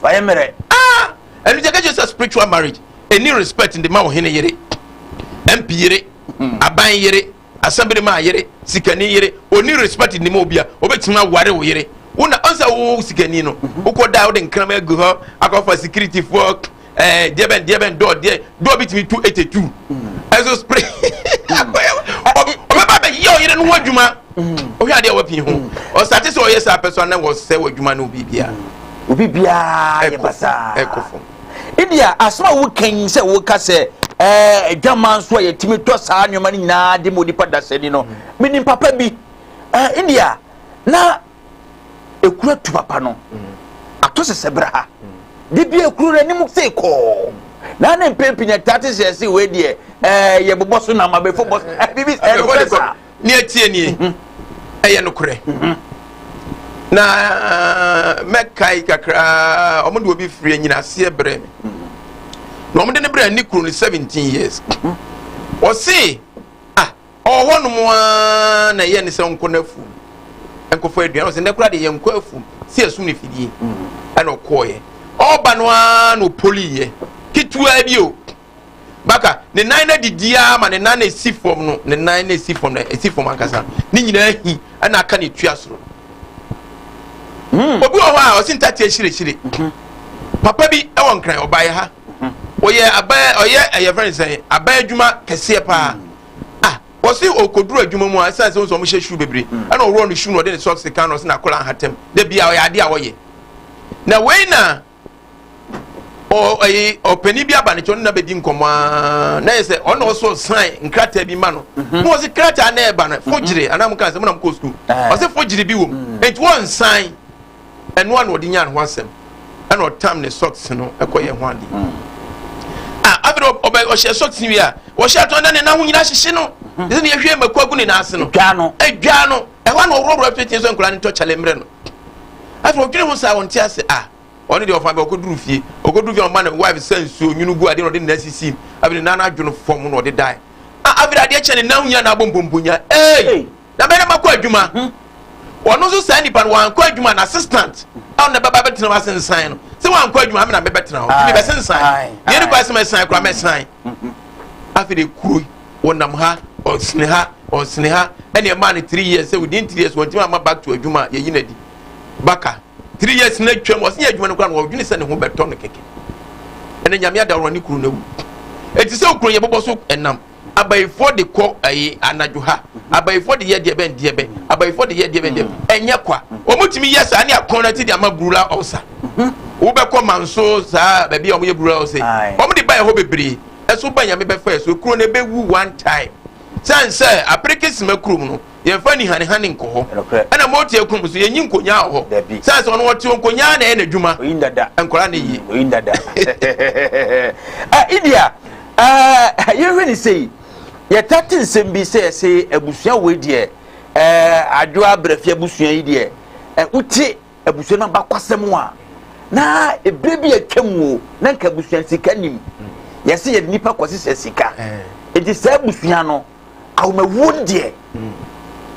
Fa yɛ mmerɛ aa ɛno nti yɛka kyerɛ sɛ spiritual marriage ɛni respect nde ma ɔhene yere, MP yere, hmm. aban yere, asɛmberemaa yere, sikani yere ɔni respect nde ma obia ɔbɛtumi aware wo yere wona ɔnsɛ wo sikani no mhm. wokɔ da wode nkrama agu hɔ akɔfa security foɔ ɛɛ eh, deɛ bɛn deɛ bɛn dɔɔ deɛ dɔɔ bi tumi tu ete tu ɛso spray ɔbɛba bɛyɛ ɔyere no ho adwuma. wohwɛ adeɛ a wapii ho ɔsate sɛ ɔyɛ saa pɛ so ana wɔsɛ wɔ adwuma no biribiaa obi biara yɛ basaa ɛkɔ fam ebia asɛm a woka yi sɛ woka sɛ ɛɛ adwaman so a yɛtumi tɔ saa nneɛma no nyinaa de ma onipa dasani no menim papa bi ɛɛ india na ekura tu papa no ato sɛsɛ bra ha de bi ekuro no anim sɛ kɔɔ na ne mpempenya taa te sɛ ɛsɛ wei deɛ ɛɛ yɛbobɔ so nam abɛfo bɔ so ɛɛ bibi ɛɛ no fɛ saa. ne ɛteɛ nie mhm. ɛyɛ nokorɛ mhm. na eh, mɛkae kakraa ɔmo de obi firi anyinaseɛ brɛ me mhm. na ɔmo de ne brɛ ne kuro no 17 years ɔse ah ɔwɔ hɔ nom a na ɛyɛ ne sɛ nkɔ no afum nkɔfɔ aduan ɔsɛ nnɛ koraa de yɛ nkɔ afum si asum ne fidie ɛna ɔkɔɔyɛ ɔba no ara na ɔpoliyɛ ketewa bi o baka ne nan no adidi ara ma ne nan na esi fam no ne nan na esi fam na esi fam ankasa ne nyinaa hi ɛna aka na etua soro hmm. obi wɔ hɔ a ɔsi ntati ahyirɛhyirɛ mhm. papa bi ɛwɔ nkran ɔbaeɛ ha mhm. ɔyɛ abɛɛ ɔyɛ ɛyɛ fɛn sɛn abɛɛ adwuma kɛseɛ paa hmm. a ah, wɔsi okoduru adwuma mu a ɛsan sɛ wɔn hyɛ shoe bebree hmm. ɛna ɔwɔ ne shoe na ɔde ne socks kan na ɔsi na akɔla ahatam de bia ɔyɛ adeɛ a ɔyɛ na wei na. ɔyi ɔpanyin bi aba ne kyɛn na bɛdi nkɔmɔ aa na yɛ sɛ ɔno na ɔsɔ san nkrataa bi ma no mhm. na ɔsi krataa na ɛba no fogyere mhm. anam nka sɛ mo na mo kɔ sukuu eh. ɔsi fogyere bi wɔ mu mhm. nti wɔn nsan ɛnoa na ɔde nya ne ho asɛm ɛna ɔtam ne socks no ɛkɔ yɛ ho adi a afei ɔbɛ ɔhyɛ socks wi a ɔhyɛ atɔ na ne nan ho nyinaa hyehye no ɛsɛ ne yɛhwɛ mako agu ne nan ase no ɛdwa no ɛhɔ na ɔworɔworɔ fitiɛ so nkura ne tɔ kyale mmerɛ no Afei odwene ho saa, ɔnte ase. Ah, ɔno deɛ ɔfa bɛ, ɔkɔduru fie. Ɔkɔduru fie a, ɔma ne wife sa nsuo, nwunu gu adeɛ na ɔde ne nan sisi mu. Afei ne nan no adwo no fam na ɔde dae. Ah, afei adeɛ kyɛ ne nan ho nyinaa na abɔ mpomponya. Ei! Na barima kɔ adwuma. Ɔno nso saa nipa no, wankɔ adwuma, n'assistant a ɔno na ɛbɛba bɛtena hɔ asensan no. Sɛ wankɔ adwuma, me na mebɛtena hɔ. Nti mebɛsensan. Deɛ ne kɔ asɛm ɛsan koraa, mɛsan. afei de kuro wɔnam ha ɔsene ha ɔsene ha ɛna ɛmaa no three years sɛ within three years wɔntumi ama back to adwuma yɛyi no adi baka three years na atwam ɔsene yɛ adwuma no kora no wɔdwene sɛ ne ho bɛtɔ no kɛkɛ ɛna nyame adaworo ne kuro no awu ɛti sɛ okuro yɛbobɔ so ɛnam abayifoɔ de kɔ ɛyi anadwo ha abayifoɔ de yɛ deɛ bɛn deɛ bɛn abayifoɔ de yɛ deɛ bɛn deɛ ɛnyɛ kwa wɔn tumi yɛ saa ne akɔn na ti de ama burula ɔsa. Hu. Wobɛkɔ manso saa baabi a wɔyɛ rural sei. Aye. Wɔde baɛ hɔ bebree. Ɛso ba Nyame bɛfaɛ so. Kuro no ɛbɛwu one time. Sane sɛ apereke sima kurom no yɛnfa anihanehane nkɔ hɔ. Nokorɛ. Ɛna moteɛ kurom nso yɛnyi nkonyaa wɔ hɔ. Dabi. Sane sɛ ɔno ɔteɔ nkonyaa na ɛyɛ n'adwuma. Oyin dada. Nkwadaa na ɛyie. Mm, oyin dada. ah, India, ah, yɛhwɛ ne sei. Yɛta te nsɛm bi sɛ yɛse abusua wei deɛ, eh, adwoa brɛfia abusua yi deɛ, eh, wote abusua no abakwasɛm a na ebere bi atwa mu o na nka abusua sika nim yɛsɛ yɛde nipa kɔsesɛ sika eti eh. saa abusua no ahomawuo no deɛ hmm.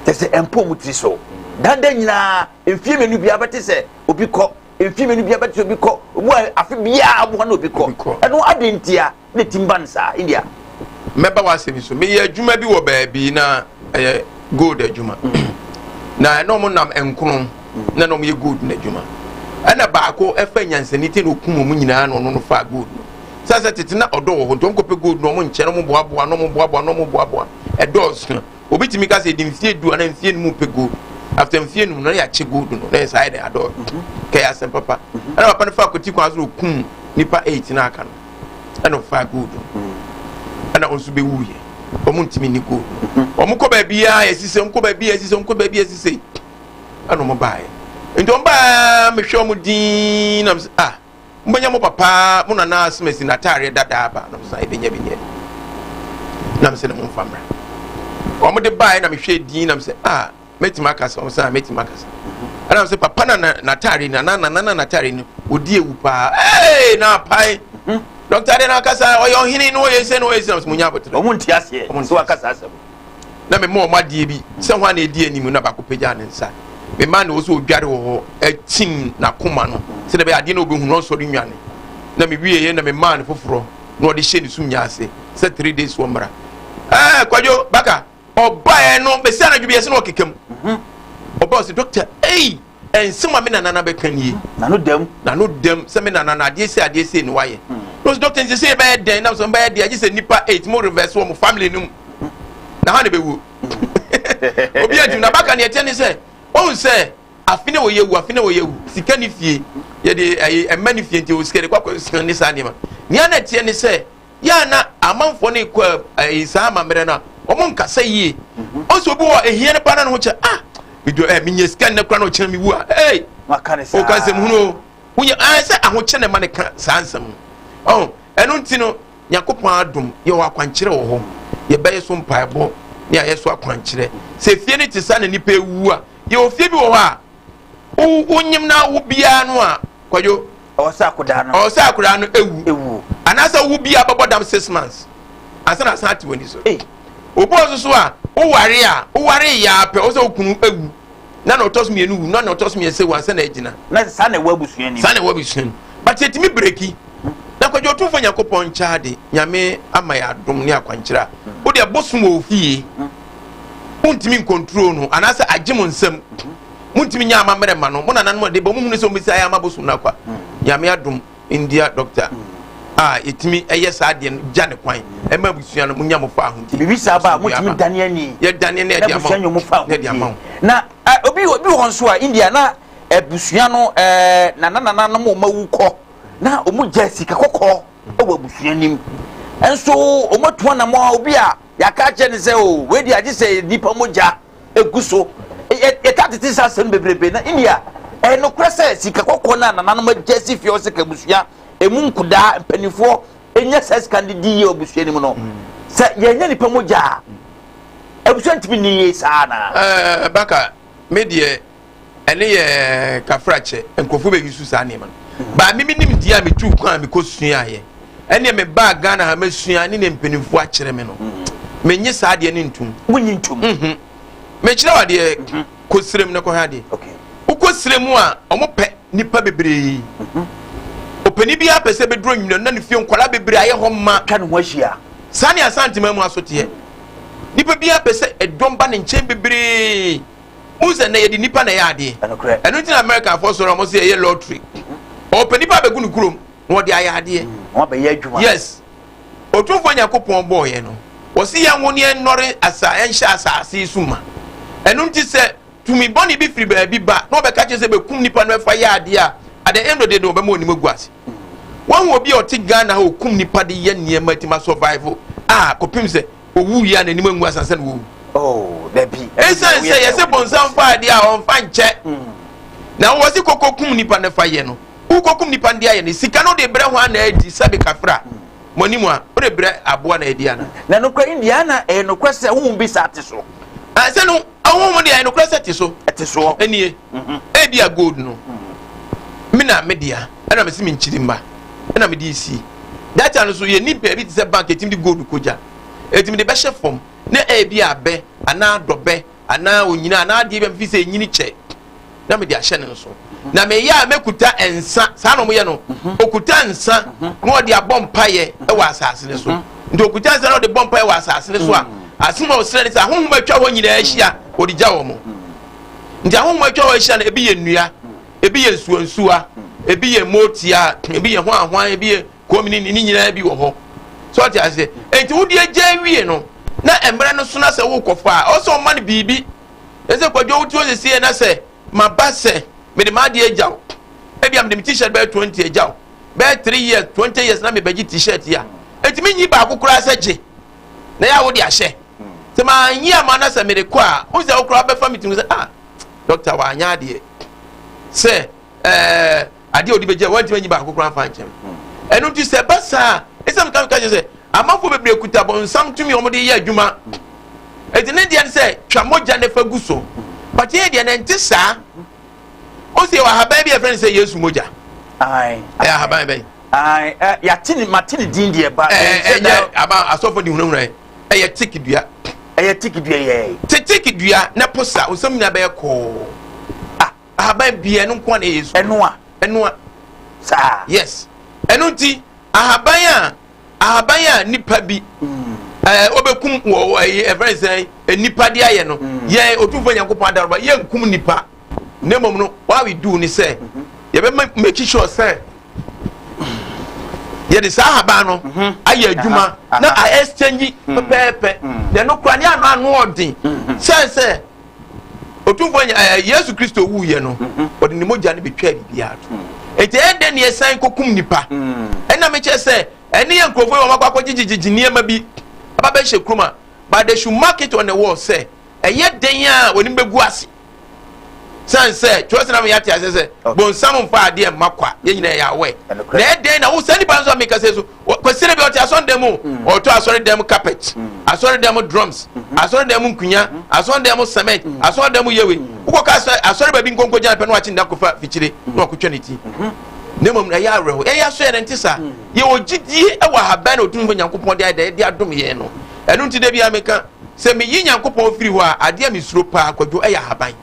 kyɛ sɛ ɛmpo mu tiri so dada nyinaa mfie mmienu biara bɛte sɛ obi kɔ mfie mmienu biara bɛte sɛ obi kɔ obu a afe biara aboa na obi kɔ ɛno adi ntia Ne tim ba no saa india. Mɛba w'asɛm yi so. Meyɛ adwuma bi wɔ baabi na ɛyɛ gold adwuma. Mm. Na ɛna ɔmo nam nkono mm. na na ɔmo yɛ gold no adwuma. Ɛna baako ɛfa nyansani te na okum ɔmo nyinaa na ɔno no faa gold no. Sɛ sɛ tete na ɔdɔ wɔ hɔ nti ɔmo kɔpɛ gold na ɔmo nkyɛn na ɔmo boaboa na ɔmo boaboa na ɔmo boaboa. Ɛdɔɔso. Obi tumi ka sɛ ɛdi mfie du anaa mfie num pɛ gold. After mfie num no na yɛakyɛ gold no na yɛ saa yɛ dɛ adɔɔ. Mm-hmm. Kɛyɛ asɛm papa. Mm-hmm. Ɛna papa no fa akɔti kwan so na okum nipa eight na aka no. ɛna ɔfaa gold no ɛna ɔnso bɛwu yɛ ɔmo ntumi ni gold ɔmo kɔ baabi a yɛsi sɛ nkɔ baabi a yɛsi sɛ nkɔ baabi a yɛsi sɛ ɛna ɔmo baa yɛ nti ɔmo baa mehwɛ ɔmo diin nam sɛ ah mo bɛnya mo papa mo nana asemasi na ataareɛ dada aba nam sɛ ɛbɛnya bi nyɛ nam sɛ na mo nfa mmra ɔmo de baa yɛ na mehwɛ diin nam sɛ ah mɛtumi aka sɛ ɔsɛ a mɛtumi aka sɛ ɛna sɛ papa na n'ataare na na na na n'ataare no ɔdi ewu paa ee na apae dɔkta de na akasa ɔyɛ ɔhene na ɔyɛ sɛ na ɔyɛ sɛ ɔsɛ mo nya abotire ɔmo nti aseɛ ɔmo nti wakasa asɛm na mema ɔmo adeɛ bi sɛ ho a na ɛdi anim na baako pagya ne nsa mema na ɔsɛ ɔdware wɔ hɔ akyim n'akoma no sɛ dɛbɛ adeɛ na ɔbɛhunu ɔnsɔre nwane na mewieɛ na memaa no foforɔ na ɔde hyɛ ne sum nya ase sɛ three days wɔ mmara ɛɛ kwadwo baka ɔbaeɛ no bɛsi anadwo bi ɛsɛ na ɔkeka mu mhm. ɔba ɔsɛ dɔkta ei ɛnsɛm a me nanana bɛka nie nano dɛm nano dɛm sɛ me nanana adeɛ sɛ adeɛ sɛ ne wayɛ hmm. na ɔsɛ dɔkta nsɛ sɛ yɛbɛyɛ dɛn na sɛ bɛyɛ deɛ agye sɛ nnipa eight mo reverse wɔ mo family no mu hmm. na ha ne bɛwuo hmm. obi adwum na baka ne ɛteɛ ne sɛ ɔhu sɛ afe ne wɔyɛ wu afe ne wɔyɛ wu sika ne fie yɛde ɛmɛ ne fie nti ɔsikɛ de kɔkɔ sika ne saa nneɛma nea na ɛteɛ ne sɛ yɛ a na amanfoɔ no kɔ ɛyi saa amammerɛ no a wɔn nkasa yie ɔsɛ obi wɔ ehia no paa na ne ho kyɛ ah medwa ɛ menyɛ sika nnɛ kora na ɔkyerɛ me wu a ɛy ɔka nsɛm hunu o wonya ɛɛ sɛ ahokyɛ na ɛma ne ka saa nsɛm ɔn ɛno nti no nyakopɔn adom yɛwɔ akwankyerɛ wɔ hɔ yɛbɛyɛ so mpaebɔ ne ayɛ so akwankyerɛ sɛ fie no te sa na nipa ewu a yɛwɔ fie bi wɔ hɔ a wo wo nyim na wo biara no a kwadwo ɔwɔ sɛ akodaa no ɔwɔ sɛ akodaa no ewu ewu anaasɛ wo biara bɛbɔ dam six months ansa na asan ate w'ani so obi wɔ soso a woware a woware yɛ apɛ ɔwɔ sɛ okunu ewu na na ɔtɔ so mmienu wu na na ɔtɔ so mmiɛnsa ewu ansa na agyina na saa na ɛwɔ abusua nim saa na ɛwɔ abusua nim but yɛtumi breki na kwadwo ɔtumfoɔ nyankopɔn nkyɛade nyame ama yɛ adom ne akwankyerɛ a wode ɛbosom wɔ ofie wontumi nkontrol no anaasɛ agye mo nsam montumi nyɛ amammerɛ ma no mo nananom ɔde bɔ mohunu sɛ ɔmmisa yɛ ama bosom no akwa nyame adom ndia dɔkta a yɛtumi ɛyɛ saa deɛ no gya ne kwan ɛma abusua no monya mo fa ahodi biribi saa ba a motumi dane ani yɛdane ne ɛde ama mo fa ahodi na obi obi wɔ nso a india na abusua no ɛɛ nananananom ɔma wu kɔ na ɔmo gya sika kɔkɔɔ ɛwɔ abusua nim nso ɔmo atu anamɔ obi a yɛaka akyɛ ne sɛ o wei deɛ agye sɛ nipa mogya egu so. Yɛ yɛtaa tete nsa asɛm no bebrebe na India. Ɛyɛ nokorɛ sɛ sika kɔkɔɔ no a nananom agya asi fie hɔ sɛ ka abusua emu nkudaa mpanimfoɔ nya saa sika no de di yie wɔ abusua no mu no, sɛ yɛannya nnipa mogya a, abusua ntumi nni yie saa anaa? Ɛɛ, Baka, me deɛ. ɛne yɛ kafrakyɛ nkurɔfoɔ bɛ yusu saa nneɛma no baa mimi nim deɛ a metu kwan a mekɔ suaeɛ ɛneɛ me baa ghana ha masua ne ne mpanimfoɔ akyerɛ me no menye saa deɛ ne ntom wonye ntom mhm. mekyerɛ wa deɛ mhm. kɔsirem no kɔhwɛ adeɛ wokɔ sirem a ɔmopɛ nipa bebree mhm. ɔpani biara pɛ sɛ bɛduro nwina na ne fie nkwadaa bebree ayɛ hɔ ma ka ne ho ahyia saa ne asantema mu asoteɛ nipa biara pɛ sɛ ɛdɔm ba ne nkyɛn bebree wohu sɛ nnɛ yɛde nnipa na ɛyɛ adeɛ ɛno nti na americanfoɔ sɔre a wɔn sɛ ɛyɛ lottery ɔpɛ nnipa abɛgu no kurom na wɔde ayɛ adeɛ mm, yes otumfoɔ nyankopɔn bɔɔyɛ no wɔsi yɛn ho ne yɛn nnɔre asa ɛnhyɛ asaase yi so ma ɛno nti sɛ tumi bɔne bi firi baabi ba na ɔbɛka kyerɛ sɛ bɛkum nipa no ɛfa yɛ adeɛ a at the end of the day no ɔbɛma onim agu ase wɔn wɔ bi a ɔte ghana a ɔkum nipa de yɛ nneɛma ti ma survival a kɔpem sɛ Owu wie a, n'anim angu ase ansa na wawu. Esiane sɛ yɛse bonsam fa adeɛ a ɔmfa nkyɛ na wowɔ se kɔkɔkum nipa no fa yɛ no, wokɔkum nipa no de ayɛ no sika no de brɛ hwan na adi sɛbe kafra mo anim a wode brɛ aboa na adi ana? Na nokorɛ Indiana ɛyɛ nokorɛ sɛ honhom bi saa te so. Sɛ no Ɔhonhom mu deɛ, nokorɛ sɛ ɛte so. Ɛte soɔ. Ɛnie, mhm. ebi a gold no, mhm. me na me dea, ɛna mesi me nkyiri mma, ɛna mede esi. Data no so yɛ nipa ebi te sɛ bank etimi de gold kogya, etimi de bɛhyɛ fam, na ebi abɛ anaa dɔbɛ anaa onyina anaa adeɛ bi a mefi sɛ enyini kyɛ. na mede ahyɛ ne nso na meyɛ a mɛkuta nsa saa na ɔmoyɛ no ɔkuta mhm. nsa mhm. na ɔde abɔ mpaeɛ wɔ asase no so mhm. nti ɔkuta nsa na ɔde bɔ mpaeɛ wɔ asase no so a asem a ɔsrɛ ne sɛ ahohom atwa hɔ nyinaa ahyia ɔde gya wɔ mo nti ahohom atwa hɔ ahyia no ebi yɛ nnua ebi yɛ nsuansuwa ebi yɛ motia ebi yɛ hwanhwan ebi yɛ komini ne nyinaa bi wɔ hɔ so ɔte aseɛ nti wode agya awie no na mmerɛ no so na sɛ wokɔfa a ɔsɛ ɔma no biribi Ɛsɛ kwadwo wote hɔ sɛsie na sɛ maba sɛ mede m'adeɛ agya wo ebia mede me t-shirt bɛyɛ 20 agya wo bɛyɛ 3 years 20 years na mebɛgye t-shirt yi a ɛtumi nyi baako koraa sɛ gye na yɛ a wode ahyɛ sɛ manyi ama na sɛ mede kɔ a wo sɛ wo koraa bɛfa me tumi sɛ ah dɔkta wanyɛ adeɛ sɛ ɛɛ eh, adeɛ a ɔde bɛgya wɔntumi anyi baako koraa mfa nkyɛn ɛno nti sɛ ɛba saa ɛsɛ meka meka kyerɛ sɛ amanfoɔ bebree kuta bɔnsam tumi wɔn de yɛ adwuma ɛti ne deɛ sɛ twa mogya ne fa gu so but yɛ deɛ nɛnte saa o sɛ ahaban bi a ɛfrɛ no sɛ yesu mogya ɛyɛ ahaban bɛn yɛate ne mate ne din deɛ ba ɛyɛ aba asɔfo de hunahuna ɛyɛ tik dua ɛyɛ tik dua yɛ te tik dua na posa nsɛm nyinaa bɛyɛ kɔɔ ahaban pii ɛno nko na ɛyɛ su. ɛnoa ɛnoa saa. yes ɛno nti ahaban a ahaban a nipa bi ɛɛ mm. ɔbɛkum wɔ ɛyɛ ɛfɛn sɛ nipa de ayɛ no mm. yɛ otumfo nyankopɔn adaraba yɛ nkum nipa ne mmom no what we do ni sɛ mm-hmm. yɛbɛ make sure sɛ yɛde saa ahaban no mhm. ayɛ adwuma na a exchange mm. pɛpɛɛpɛ na ɛno kura ne ano ano ɔden sɛ sɛ. Otumfoɔ nya ɛɛ Yesu Kristo wuiɛ no, ɔde ne mogya no betwaa biribiara to. Enti ɛyɛ dɛn na yɛsan kɔkum nipa? Ɛna mekyɛ sɛ ɛne yɛ nkurɔfoɔ yi wɔn akɔ akɔgyegyegyegye nneɛma bi aba bɛhyɛ kurom a, but they should mark it on the wall sɛ ɛyɛ dɛn a wɔn anim bɛgu ase. San sɛ twerɛsɛm na yɛate aseɛ sɛ bonsam mfa adeɛ mma kwa yɛn nyinaa yɛ awɛ. Na ɛyɛ dɛn na wo saa nipa nso a meka sɛ so kwasire bi ɔte asɔre dɛm mu mm. ɔtɔ asɔre dɛm carpet mm. asɔre dɛm drums mm-hmm. asɔre dɛm nkunya mm-hmm. asɔre dɛm cement mm. asɔre dɛm yewe wokɔ ka asɔre asɔre baabi nkonko gyina pɛ na wakye nda kofa fikyire na wakotwa ne ti mm-hmm. na mmom ɛyɛ awerɛho ɛyɛ aso yɛ ne nte saa yɛwɔ gyidie ɛwɔ ahaban na ɔtumfo nyankopɔn de ayɛ de adom yɛn no ɛno nti da bia meka sɛ meyi nyankopɔn firi hɔ a adeɛ a mesuro paa kwadwo ɛyɛ ahaban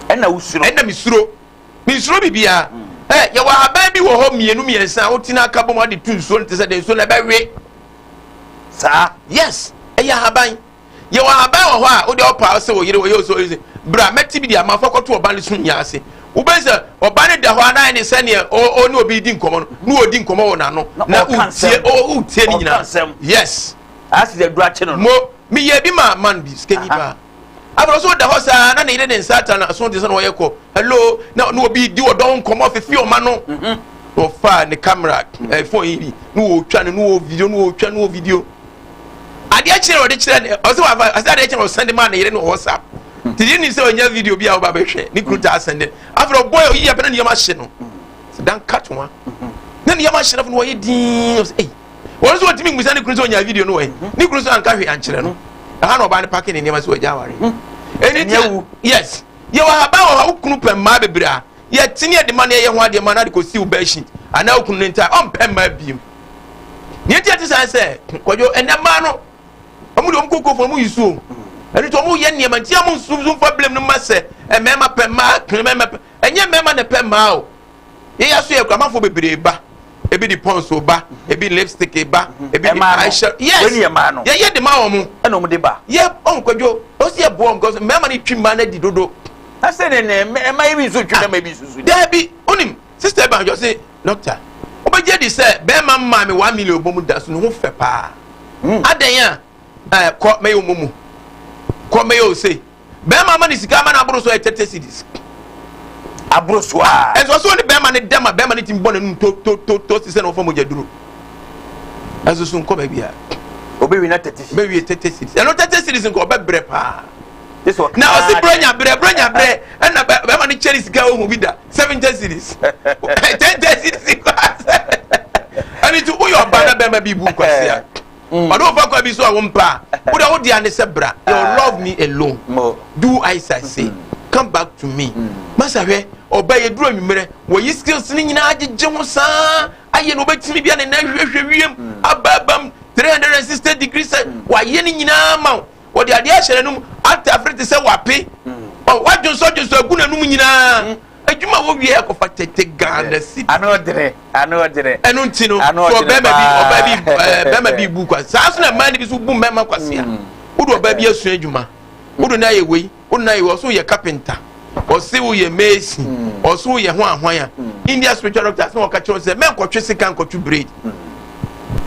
ɛna mesuro Mensuro biribiara. Hɛ! Yɛwɔ ahaban bi wɔ hɔ mmienu mmiɛnsa a wotena aka bom ade tu nsuo no te sɛ dɛ nsuo no ɛbɛwe saa. Yes, ɛyɛ ahaban. Yɛwɔ ahaban wɔ hɔ a wode ɔpa ɔsɛ wɔ yere wɔ yɛ ɔsɛ ɔyɛ bra mɛte bi de ama fa kɔto ɔba no so nyinaa ase. Wobɛn sɛ ɔba no da hɔ anaa ne sɛ neɛ ɔne obi di nkɔmɔ no ne ɔdi nkɔmɔ wɔ n'ano na wotie wotie ne nyinaa. Yes. Mo meyɛ bi ma man bi sikani paa. Afei ɔso da hɔ saa na ne yere ne nsa atra no aso te sɛ na ɔyɛ kɔ hello na na obi di ɔdɔn nkɔmɔ fifi ɔma no mhm. na ɔfa ne camera ɛɛ phone yi bi na ɔretwa no na ɔwɔ video na ɔretwa na ɔwɔ video adeɛ kyerɛ na ɔde kyerɛ ne ɔsɛ wafa ɔsɛ adeɛ kyerɛ na ɔsɛn de maa ne yere na ɔwɔ sa te yere nim sɛ ɔnya video bi a ɔba bɛhwɛ ne kuru taa sɛn de afei ɔbɔ yɛ oyi yɛ pɛ na nneɛma hye no dan kat wa na nneɛma hye no afei na ɔyɛ dii ɔsɛ ɛyi. wɔn nso wɔtumi mmisa ne kunu sɛ ɔnyaa video no wɔ he hmm. ne kunu nso anka hwee ankyerɛ no hmm. ɛha na ɔbaa no pake ne nneɛma sɛ wɔagya aware hmm. ɛni ti yes yɛwɔ haba wɔ ha wo kunu pɛ mmaa bebree a yɛtene yɛde ma no yɛyɛ ho adeɛ ma no ade kɔsi wo bɛhyi anaa wo kunu no ntaa ɔmpɛ mmaa biem neɛ ti ɛte saa sɛ kwadwo ɛnɛ mmaa no ɔmo deɛ ɔmo koko fo ɔmo yi suo ɛno nti ɔmo yɛ nneɛma nti ɔmo nso nso nfa blame no ma sɛ mmarima pɛ mmaa kene mmarima pɛ Ɛnyɛ mmarima na ɛpɛ mmaa o. Yɛn yɛ so yɛ kuramanfoɔ bebree ba. Ebi de pons o ba, ebi lipstick ba, ebi de eye shell. Yes, yɛyɛ de ma wɔn. Ɛna wɔn de ba. Yɛ ɔn kwadwo, ɔn si yɛ boɔ wɔn kɔsɔ. Mmarima no twi mmaa no adi dodo. Na sɛ ne ne mmaa yi bi nso twi mmarima bi nso so. Daabi, onim sister bi anhwɛ ɔsi doctor, ɔbɛgye adi sɛ bɛrima mmaa mi one million bɔ mu da so ne ho fɛ paa. Adɛn a? ɛɛ kɔ mɛyɛ wo mumu kɔ mɛyɛ wo sei bɛrima ama ne sika ama no aboro so yɛ tete cedis aboro so a ɛnso so ne bɛrima ne dɛm a bɛrima ne ti bɔ n'anum to to to to sisɛ na wɔfa mogya duro ɛnso so nkɔ baabi a obewie na tete cedis obewie tete cedis ɛno tete cedis nkɔ ɔbɛbrɛ paa na ɔsi brɛ nya brɛ brɛ nya brɛ ɛna bɛrima ne kyɛn ne sika ohun bi da seventy cedis ten ten cedis nkɔ asɛ ɛni ti woyɛ ɔbaa na bɛrima bi bu nkwasi a. mm. ɔne wofa kwa bi so a wompɛ a wode wode ane sɛ bra you ah. love me alone do i say mm. come back to me mm. masa hwɛ ɔba yɛduru anwummerɛ wɔyi skills no nyinaa gyegye ho saa ayɛ no wobɛtumi bia ne na hwehwɛ wiem ababam 360 degree sɛ wayɛ no nyinaa ma wo wɔde adeɛ ahyɛ n'anom ate afere te sɛ wape wadwonsɔ dwonsɔ agu n'anom nyinaa Adwuma a wɔwie yɛ kɔfa tete Ghana cedi. Ano dene, ano dene. Ɛno nti no, sɛ ɔbarima bi ɔbaa bi ɛɛ barima bi bu kwa. Saa nso na mmaa no bi nso bu mmarima kwasea. Mm. Wode ɔbaa bi asua adwuma. Wode no ayɛ wei, wode no ayɛ wei, ɔso yɛ kapenta. Ɔse woyɛ mesi, mm. ɔso woyɛ ho ahwan a. Mm. India spiritual doctor sɛ wɔka kyerɛ sɛ mɛnkɔtwe sika nkɔtwe braid.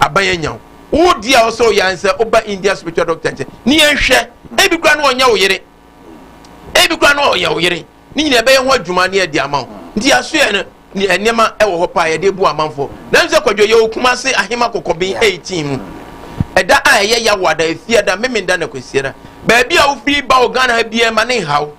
Aban anya wo. Wodi a ɔsɛ ɔyɛ ansɛ woba India spiritual doctor nkyɛn. Ne yɛnhwɛ, ebi kura no ɔnyɛ wo yere. Ebi koraa na ɔyɛ wo yere. Ne nyinaa ɛbɛyɛ ho adwuma ne ɛde ama wo. Nti asoɛ no ne nneɛma ɛwɔ hɔ paa yɛde bu amanfoɔ. Nanso sɛ kwadwo yɛwɔ Kumase Ahema Kɔkɔben 18 mu. Ɛda a ɛyɛ Yawoada, Efiada, Memenda na Kwasiada. Baabi a wofiri ba wɔ Ghana ha biara ma ne nha wo.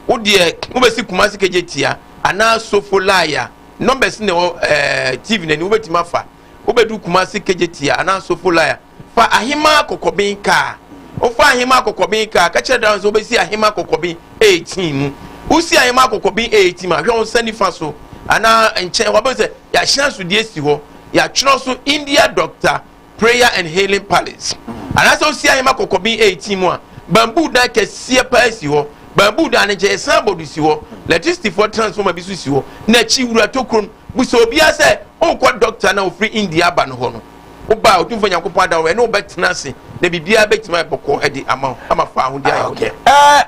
Wo deɛ wobɛsi Kumase Kegyetia anaa Sofo Laya. Numbers na ɛwɔ ɛɛ TV no anim wobɛtumi afa. Wobɛduru Kumase Kegyetia anaa Sofo Laya. Fa ahemaa kɔkɔben kaa. Ɔfaa ahemaa kɔkɔben kaa, ka kyerɛɛ Dawid sɛ, Wobɛsi ahemaa kɔkɔben eetin mu. Wosi ahemaa kɔkɔben eetin mu a, hwɛ wo nsa nifa so anaa nkyɛn hɔ, wobɛhu sɛ yɛahyɛn so deɛ si hɔ. Yɛatwerɛ so India Doctor, Prayer and Healing Palace. Anaasɛ wosi ahemaa kɔkɔben eetin mu a, bamboo dan kɛseɛ paa si hɔ. Bamboo dan no nkyɛn yɛ signboard si hɔ. Electricityfoɔ transformer bi nso si hɔ. N'akyi, wura tokuro no. Bisa obiara sɛ, Worekɔ dɔkta no a ɔfiri India aba no hɔ no? wo ba a otumfoɔ nyankopɔn ada wo ɛne wo bɛtena ase na biribiara bɛtumi ayɛ bɔkɔɔ adi ama wo ama fa ahodi ayɛ wo dɛ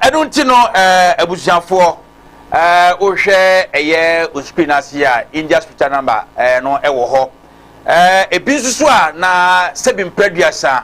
ɛno nti no abusuafoɔ wohwɛ ɛyɛ osukuu no ase a india scripture number no ɛwɔ hɔ ebi nso so a na sɛbi mprɛ aduasa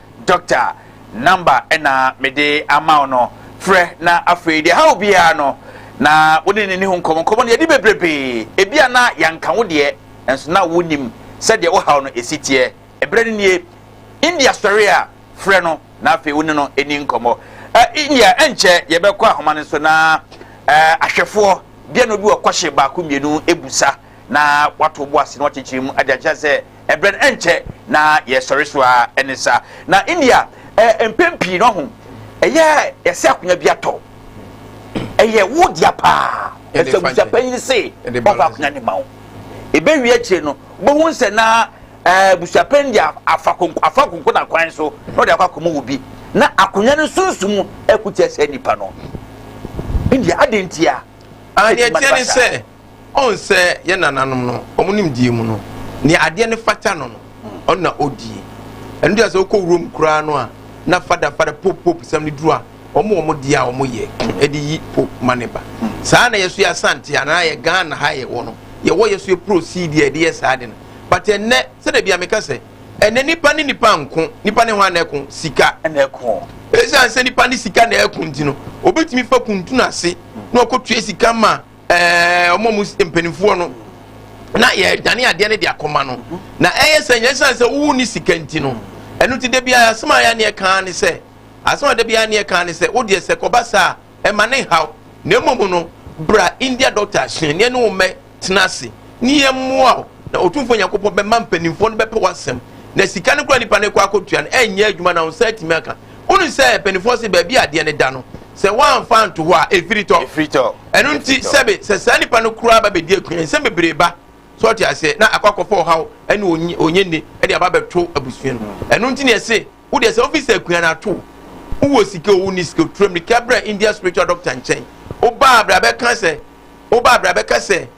dɔkta number na mede ama wo no frɛ na afei deɛ haw biara no na wo ne n'ani ho nkɔmmɔ nkɔmmɔ no yɛde bebrebe ebi a na yɛanka wo deɛ nso na wonim sɛdeɛ wo haw no esi teɛ ɛberɛ no nie india sɔre a frɛ no na afei wo ne no ani nkɔmmɔ india ɛnkyɛ yɛbɛkɔ ahoma no so na ahwɛfoɔ bia na obi wɔ kɔhye baako mmienu ebusa na wato bo ase na wakyekyere mu ade akyerɛ sɛ ɛbrɛ no ɛnkyɛ na yɛsɔre so a ɛne saa na india ɛ mpɛn pii no ho ɛyɛ yɛsɛ akonnwa bi atɔ ɛyɛ wo dea paa ɛsɛ abusua panyin se ɔfa akonnwa ne ma wo ɛbɛwie akyire no wobɛhu sɛ na abusua panyin de afa konko afa konko na kwan so na ɔde akɔ akɔmɔ wo bi na akonnwa no sunsumu ɛkutia sɛ nipa no india adentia adeɛ tiɛ ne sɛ Ɔn sɛ yɛ nananom no, ɔmo nimdeɛ mu no, nea adeɛ no fata no no, ɔno na ɔdie. Ɛno nti a sɛ wokɔ wurom koraa no a, na fada fada, pope pope sɛm no duru a, ɔmo ɔmo deɛ a ɔmo yɛ de yi pope ma no ba. Saa na yɛ nso yɛ Asante anaa yɛ Ghana ha yɛ wɔ no, yɛ wɔ yɛ so yɛ proceed a yɛde yɛ saa ade no. But ɛnnɛ, sɛdeɛ bia me ka sɛ, ɛnnɛ nipa ne nipa nko, nipa ne hwan na ɛko? Sika. Ɛna ɛko. Ɛsiane sɛ nipa ne sika na ɛko nti no, obetumi fa kuntun ase na ɔkɔ tua sika ma. ɛɛ wɔn a wɔsi mpanimfoɔ no na yɛdane adeɛ no de akɔma no na ɛyɛ sɛ nyɛ sane sɛ wowu ne sika nti no ɛno ti da biara asɛm a yɛ aneɛ kaa ne sɛ asɛm a da biara aneɛ kaa ne sɛ wodeɛ sɛ kɔba saa ɛma ne nhaw na mmom no bra india doctor hyɛn ne ɛne wo mmɛ tena ase ne yɛ mmoa wo na ɔtumfoɔ nyankopɔn bɛma mpanimfoɔ no bɛpɛ w'asɛm na sika no kora nipa no kɔ akɔtua no ɛnyɛ adwuma na wo nsa atumi aka Wonim sɛ mpanimfoɔ se baabi a adeɛ no da no, sɛ woamfa anto hɔ a, ɛfiri tɔ. Ɛfiri tɔ. Ɛno nti, sɛbe, sɛ saa nipa no koraa ba bɛdi akua, nsɛm bebree ba, sɛ ɔte aseɛ, na akɔ akɔfa ɔhaw ne onye, onyenni de aba bɛto abusua no mu. Ɛno nti na yɛse, wo deɛ sɛ wofi sɛ akua no ato wo, wowɔ sika o, wonni sika o, tura mmirika brɛ India spiritual doctor nkyɛn. Wobaa berɛ a bɛka sɛ, wobaa berɛ a bɛka sɛ,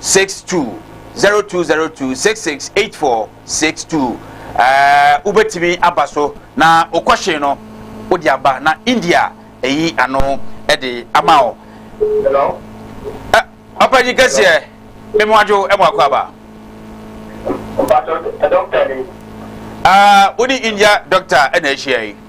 six two zero two zero two six six eight four six two ɛɛ wobɛtumi aba so na okɔhye no wode aba na india ɛyi ano ɛde ama o. ɛ ɔpanyin kɛseɛ memu adwo ɛmu akɔ aba. ɛɛ wode india dɔkta ɛna ahyia yi.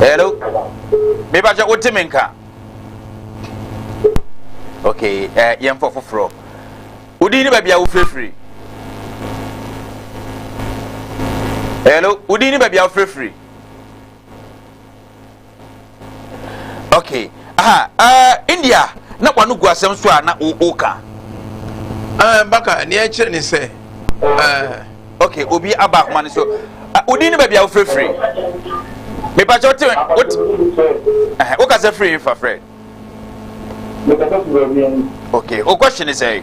hello meba kyɛ wote me nka okay ɛɛ eh, yɛmfa foforɔ wodin ne baabi a wofirifiri hello wodin ne baabi a wofirifiri okay aha uh, india na wano gu asɛm so a na woka uh, baka neɛ ɛkyerɛ ne sɛ uh, okay obi aba akoma no so uh, wodin ne baabi a wofirifiri mepakyɛ wote wote uh, woka sɛ firi fa frɛ okay wo question ne sɛ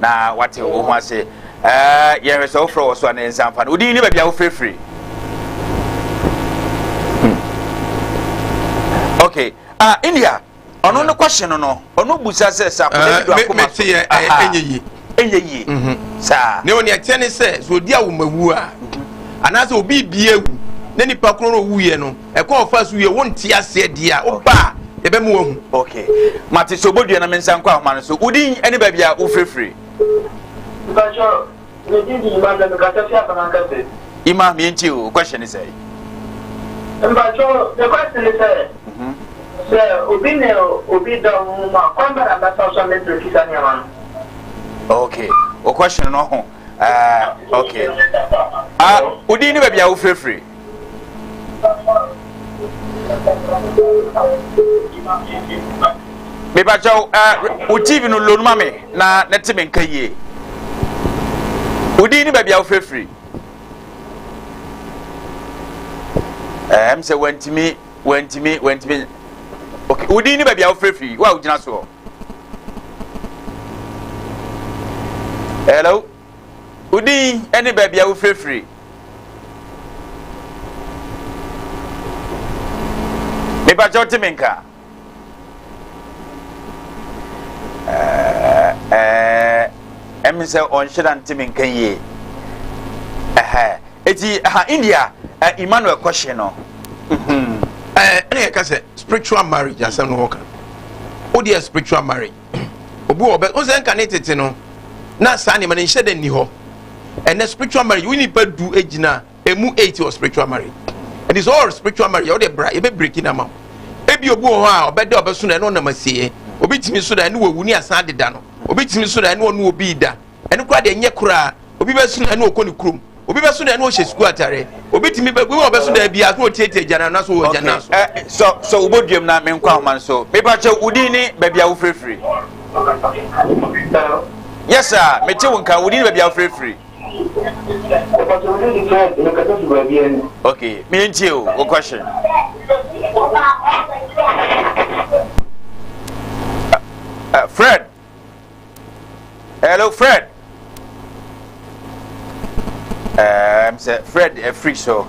na wate wo ho ase ɛɛ yɛn hwɛ sɛ wofrɛ wɔ so a na yɛn nsa nfa no odin ne baabi a wofirifiri hmm. okay ah india ɔno ne kɔhye no no ɔno busa sɛ sa kɔhye eh, do akoma so ɛyɛ eh, eh, ɛnyɛ yie ɛnyɛ yie mhm. saa ne wɔn ɛkyɛ ne sɛ sɛ odi awomawu a mhm. anaasɛ obi bie wu ne nipa koro no wu yɛ no. ɛkwan ɔfa so wie wo nte aseɛ deɛ a woba a yɛbɛma wahu ok mate sɛ obɔdua na me nsa nkɔ ahoma no so wodin ne baabi a wofirifiri ima meɛnti o question ne sɛ mpakyɛ ne question ne sɛ mhm. sɛ obi ne obi da wo mu a kwan bɛ na mɛfa so a mɛtumi kisa nneɛma no ok o question no ho Uh, okay. Ah, uh, wodin ne baabi a wofirefiri. mebakyɛw uh, wo tv no lonu ma me na na te me nka yie wodin ne baabi a wofirefiri ɛm sɛ wantumi wantumi wantumi okay wodin ne baabi a wofirefiri wo a wogyina soɔ hello wo din ne baabi a wofirifiri mepakyɛ wote me nka ɛmi sɛ ɔnhyɛda nte me nka yie ɛti ha india emmanuel kɔhye no ɛne yɛka sɛ spiritual marriage asɛm no hɔ ka wo deɛ spiritual marriage obi wɔ ɔbɛ ɔsɛ nka ne tete no na saa nneɛma no nhyɛ dɛ nni hɔ ɛnɛ spiritual marriage wo nipa du egyina emu eight wɔ spiritual marriage ɛdi sɛ ɔwɔ spiritual marriage ɔde bra yɛbɛ breki na ma ebi obi wɔ hɔ a ɔbɛ da ɔbɛ so na ɛna ɔnam asieɛ obi tumi so da ɛne wɔ wu ne asan adeda no obi tumi so da ɛne ɔne obi da ɛno koraa deɛ ɛnyɛ koraa obi bɛso na ɛna ɔkɔ ne kurom obi bɛso na ɛna ɔhyɛ sukuu atare obi tumi bɛ obi wɔ bɛso na ebi aso ɔtiatia gyana na so wɔ gyana so. ɛ eh, sɔ sɔ wo bɔ duam na me nkɔ ahoma no so mepakyɛ wo din ne baabi a wofirifiri. yɛ saa mete wo nka wo din ne baabi a wofirifiri. ok meyɛ ntie o wo question. Uh, uh, Fred. Hello, Fred. Um, sɛ Fred afiri eh, so.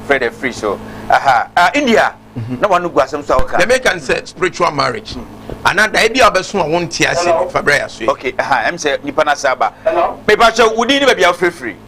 Fred afiri eh, so. Aha. Uh, India. Mm-hmm. Na wɔn gu asɛm so a wɔka. Dɛmɛ kan sɛ spiritual marriage. Ana da ebi a ɔbɛso a wɔn ti ase no fa brɛ yɛ so yi. Okay, aha, ɛm sɛ nipa na sɛ aba. Mepa kyɛw, wudi ni baabi a wofirifiri.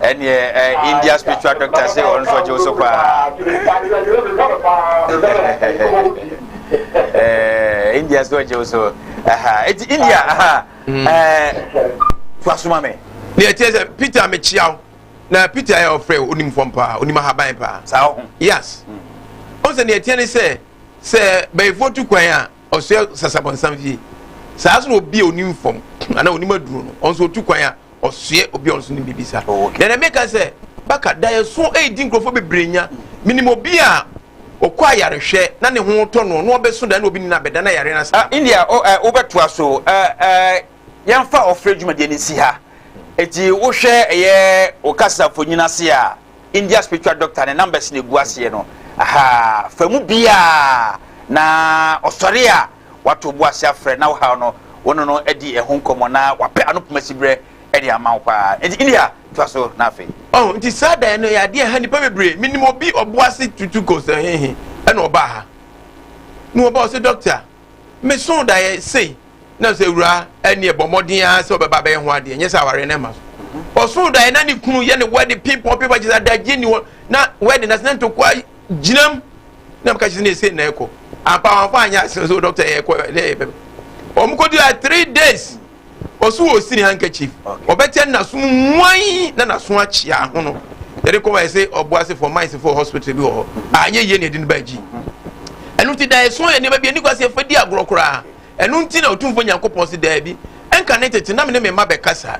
ɛneɛ eh, india spiritual doctor sɛ ɔno nso ɔgye wo so paa eh, india so ɔgye wo so ɛti india hmm. eh, foasoma me deɛ ɛteɛ sɛ peter mekyia wo na peter yɛ ɔfrɛ wo onim fam paa onim ahaban paa saa ho yes ɔn sɛ deɛ ɛteɛ ne sɛ sɛ bɛyifoɔ tu kwan a ɔsɛ sasabɔnsam fie saa so na obi a onim fam anaa onim aduro no ɔn sɛ otu kwan a ɔsoɛ obi a ɔnso ne biribi saa oh, na na meka sɛ baka da ɛso ɛredi nkurɔfoɔ bebree nya menim obi a ɔkɔ ayarehwɛ na ne ho tɔ no na ɔbɛso da na obi nina bɛda na yare no saa ah, india wobɛtoa so yɛmfa ɔfrɛ dwumadeɛ no nsi ha ɛti wohwɛ ɛyɛ wo kasa mfonyini ase a india spiritual doctor ne numbers no ɛgu aseɛ no aha fa mu biaa na ɔsɔre a Wato bo ase afrɛ na wohaw no, wo ne no adi ɛho nkɔmmɔ na wapɛ ano poma siberɛ de ama wo paa. Enti India, toa so na afei. Oh, nti saa dan no yɛ adeɛ a ɛha nnipa bebree. Menim obi ɔbo ase tutu kɔ sɛ he he na ɔbaa ha. Na ɔba ɔse, Doctor, me soo da yɛ sei. Na mesɛ, Awuraa, ɛnneɛ bɔ mmɔden ara sɛ wobɛba abɛyɛ ho adeɛ, nyɛ sɛ awareɛ no mma so. Ɔsoo daeɛ na ne kunu yɛ no wedding, ping pong, ping pong, kyerɛ sɛ adagyeɛ nni hɔ. Na wedding no ase na ntɔkwa Gyinam na meka kyerɛ sɛ ɛsɛ na ɛkɔ ampa wɔn afa anyɛ asene so dɔkta yɛ ɛkɔ ne yɛ bɛm wɔn kɔ dua three days ɔso wɔ sini handkerchief ɔbɛkyɛ naso mu muan na naso akyia ho no yɛde kɔ wɔn ɛsɛ ɔbo ase fɔ mines fɔ hospital bi wɔ hɔ anyɛ yie na ɛdi ne ba akyi ɛnu ti da ɛso yɛ nneɛma bi ɛni kɔ ase ɛfɛ di agorɔ koraa Ɛno nti na Otumfoɔ Nyankopɔn se, Daabi, ɛnka ne tete na me ne me mma bɛkasa,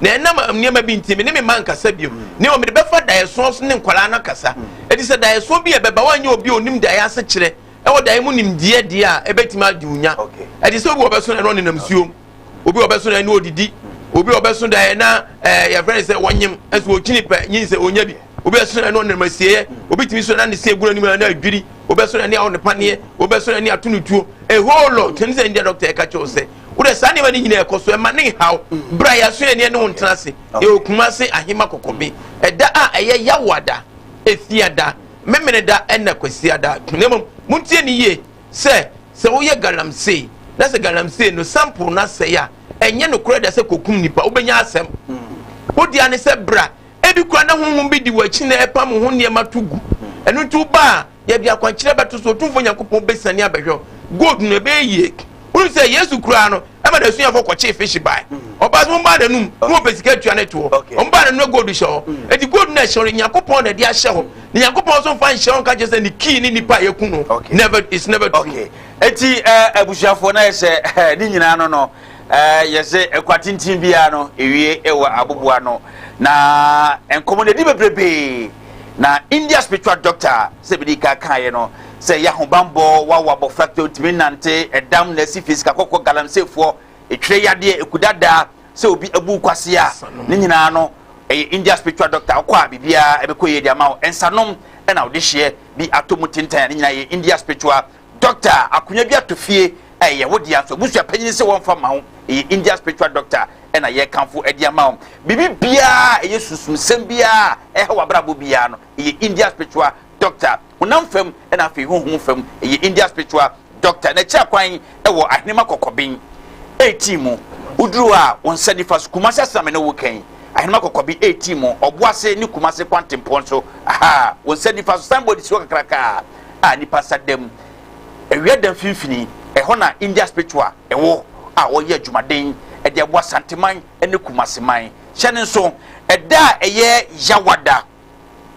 na ɛnam nneɛma bi nti me ne me mma nkasa bio, na mmom mede bɛfa daeɛsoɔ so ne nkwadaa no akasa, ɛfiri sɛ daeɛsoɔ bi a ɛbɛba a wɔanyɛ obi a ɔnim daeɛ asekyerɛ ɛwɔ daeɛ mu nimdeɛ deɛ a ɛbɛtumi agye wo nya. Ɛte sɛ obi a ɔbɛso daeɛ na ɔnenam nsuom, obi a ɔbɛso daeɛ na ɔdidi, obi a ɔbɛso daeɛ na ɛɛ eh, yɛfrɛ no sɛ wɔnyem, nso ɔkyini pɛ nyinsɛ ɔnya bi. obi ɛso na ɛne ɔnam asieɛ obi tumi so na ne se egura ne mu na adwiri obi ɛso na ne awo ne paneɛ obi ɛso na ne ato ne tuo a whole lot tɛm sɛ ndɛ dɔkta ɛka kyɛw sɛ wodɛ saa nneɛma ne nyinaa ɛkɔ so ɛma ne nhaw bra yaso yɛ neɛ ne ho ntena ase ɛwɔ kuma ase ahema kɔkɔbe ɛda a ɛyɛ yawada efiada memene da ɛna kwasiada na mmom montie ne yie sɛ sɛ woyɛ galamsey na sɛ galamsey no sample no asɛe a ɛnyɛ nokorɛ da sɛ kɔkum nipa wobɛnya asɛm wodeɛ ne sɛ bra Ebi koraa na honhom bi di w'akyi na ɛrepam wo ho nneɛma to gu. Ɛno nti woba a, yɛde akwankyerɛ bɛto so, Otumfoɔ Nyankopɔn bɛsiane abɛhwɛ wo. Gold no, ɛbɛyɛ yie. Wonim sɛ Yesu koraa no, ɛma n'asuafoɔ kɔkyee fish bae. Ɔbaa sɛ mommra n'anom na wɔpɛ sika atua no to hɔ. Wɔbaa n'anom na gold hyɛ hɔ. Enti gold no a ɛhyɛ hɔ no, Nyankopɔn na ɛde ahyɛ hɔ. Na Nyankopɔn nso mfa nhyɛ hɔ nka kyerɛ sɛ ne key ne nipa a yɛaku no. Never, it's never true. Enti abusuafoɔ, na ayɛ sɛ ne nyinaa no no, Ɛɛ, yɛsɛ ɛkwa tenten biara no ewie ɛwɔ aboboano, na nkɔmɔ na ɛdi bebrebe. Na India spiritual doctor sɛ bidi ka kaeɛ no sɛ yɛ ahobanbɔ wawo abɔfra kɛ ɔntumi nnante, ɛdam na ɛsi fisika kɔkɔ galamseyfoɔ, ɛtwerɛ yadeɛ, ɛku dada, sɛ obi abu nkwasea, ne nyinaa no ɛyɛ India spiritual doctor wokɔ a biribiara ɛbɛkɔ yie de ama wo, nsanom ɛna wode hyeɛ bi atɔ mu tentan a ne nyinaa yɛ India spiritual Doctor a akonya bi ato fie a ɛyɛ wo dea nso abusua panyin se wɔmfa mma wo. Ɛyɛ India spiritual doctor na yɛrekamfo de ama wo. Biribi biara a ɛyɛ sunsumsɛm biara a ɛhaw w'abrabɔ biara no, ɛyɛ India spiritual doctor. Honam fam na afei honhom fam, ɛyɛ India spiritual doctor. N'akyira kwan wɔ Ahenemma Kɔkɔben 18 mu. Woduru hɔ a, wo nsa nifa so, Kumasi ase na me ne wo reka yi. Ahenemma Kɔkɔben 18 mu, Ɔboase ne Kumasi kwantempɔn so. Aha, wo nsa nifa so, signboard si hɔ kakraka. a nnipa sa da mu. Awia da mfimfini, ɛhɔ na India Spiritual wɔ a wɔyɛ adwumaden de aboa Santeman ne Kumasi man. Hyɛ no nso, ɛda a ɛyɛ Yawada,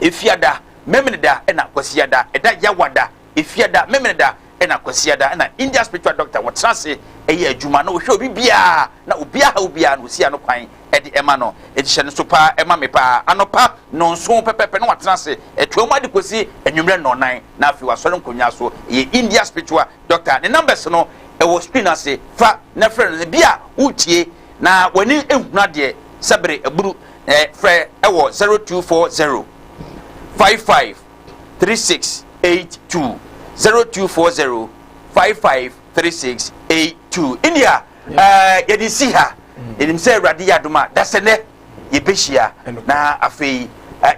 Efiada, Memeneda na Kwasiada, ɛda Yawada, Efiada, Memeneda na Kwasiada na India Spiritual Doctor wɔtena ase yɛ adwuma na wɔhwɛ obi biara na obiara ha obiara na wɔsi ano kwan de ɛma no. Enti hyɛ no so paa, ɛma me paa. Anɔpa nnɔnson pɛpɛɛpɛ na watena ase atua mu ade kosi anwummere nnɔnnan, na afei wasɔre nkonnwa so. Ɛyɛ India Spiritual Doctor. Ne numbers no, ɛwɔ screen no ase. Fa na frɛ no. Ebia woretie na w'ani nhunu adeɛ sɛ bere aburu. Eh, frɛ ɛwɔ 0240 55 3682. 0240 55 3682. India. Ɛɛ, yɛde si ha. Yɛnim sɛ Awurade yɛ adom a, dasɛnnɛ yɛbɛhyia na afei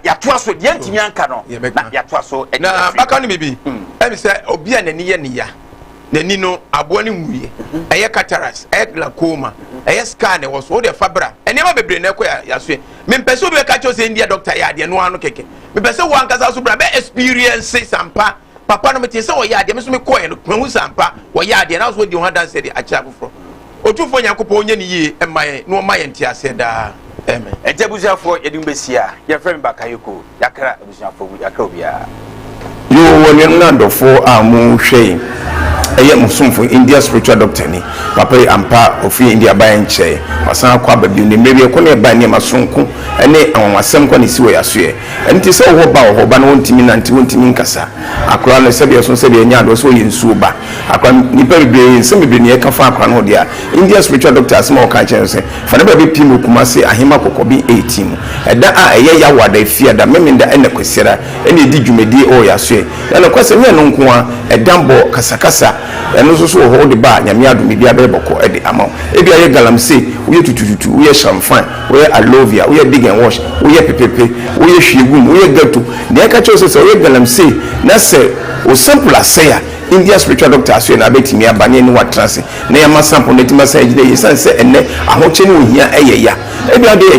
yɛatoa so deɛ ntumi anka no na yɛatoa so. Na baka no biribi hmm. ɛne sɛ obi a n'ani yɛ ne ya n'ani no aboa no nwuiɛ mhm. ɛyɛ cataracts ɛyɛ glaucoma mhm. ɛyɛ scar na ɛwɔ so wode fa bra nneɛma bebree na ɛkɔ yɛasoɛ mempɛ sɛ obi bɛka kyɛw sɛ ndia dɔkta yɛ adeɛ no ano kɛkɛ mepɛ sɛ wo ankasa so bra bɛ experience sampa papa no metee sɛ ɔyɛ adeɛ me nso mekɔɛ no mahu sɛ ampa ɔyɛ adeɛ na nso ɔdi ho adanseɛ de akyerɛ afoforɔ ɔtumfoɔ nyankopɔn ɔnyɛ ne yie mma yɛn na ɔma yɛn nteaseɛ daa amen ɛnti abusuafoɔ yɛde mu bɛsi a yɛfrɛ me bakayoko yɛakra abusuafoɔ mu yɛakra obiara yoo wɔ nuanom no adɔfoɔ a mo hwɛ yi ɛyɛ mo somfo india spiritual doctor ni papa yi ampa ɔfiri india baeɛ nkyɛe wasan akɔ aba bio ne mmerɛ bi ɛkɔ ne ɛba nneɛma sonko ne anwanwasɛm kɔ ne si wɔ yɛasoɛ Ɛno nti sɛ ɔwɔ ba a, ɔwɔ ba na ɔntumi nante, ɔntumi nkasa. Akora no sɛdeɛ ɔso sɛdeɛ ɛnyɛ adeɛ ɔso ɔyɛ nsuo ba. Akora no nipa bebree nsɛm bebree na yɛka fa akora no ho deɛ a, Indian spiritual doctor asɛm a ɔka kyerɛ no sɛ, fa ne bra bɛpie me wɔ Kumase Ahema Kɔkɔben 18 mu. Ɛda a ɛyɛ Yawo ada, Efiada, Memenda ɛna Kwasiada ɛna ɛdi dwumadie ɛwɔ Yasoɛ. Na nokorɛ sɛ nyɛ ɛno nko ara, ɛdambɔ, kasakasa, ɛno nso so wɔ hɔ wode ba a Nyame adom biribiara bɛyɛ bɔkɔ de ama wo. Ebia yɛ galamsey, woyɛ tutututu, woyɛ shamfan, Woyɛ alovia, woyɛ dig and wash, woyɛ pepepe, woyɛ hwie gu mu, woyɛ ghetto, nea ɛka kyerɛ wo sɛ sɛ woyɛ galamsey na sɛ wo sample asɛe a, Indian spiritual doctor asoɛe na abɛtumi aba ne ɛne wo atena ase na yɛama sample no atumi asan agyina yie. Esiane sɛ ɛnnɛ ahokyere ne ohia yɛ ya, ebia wode yɛ.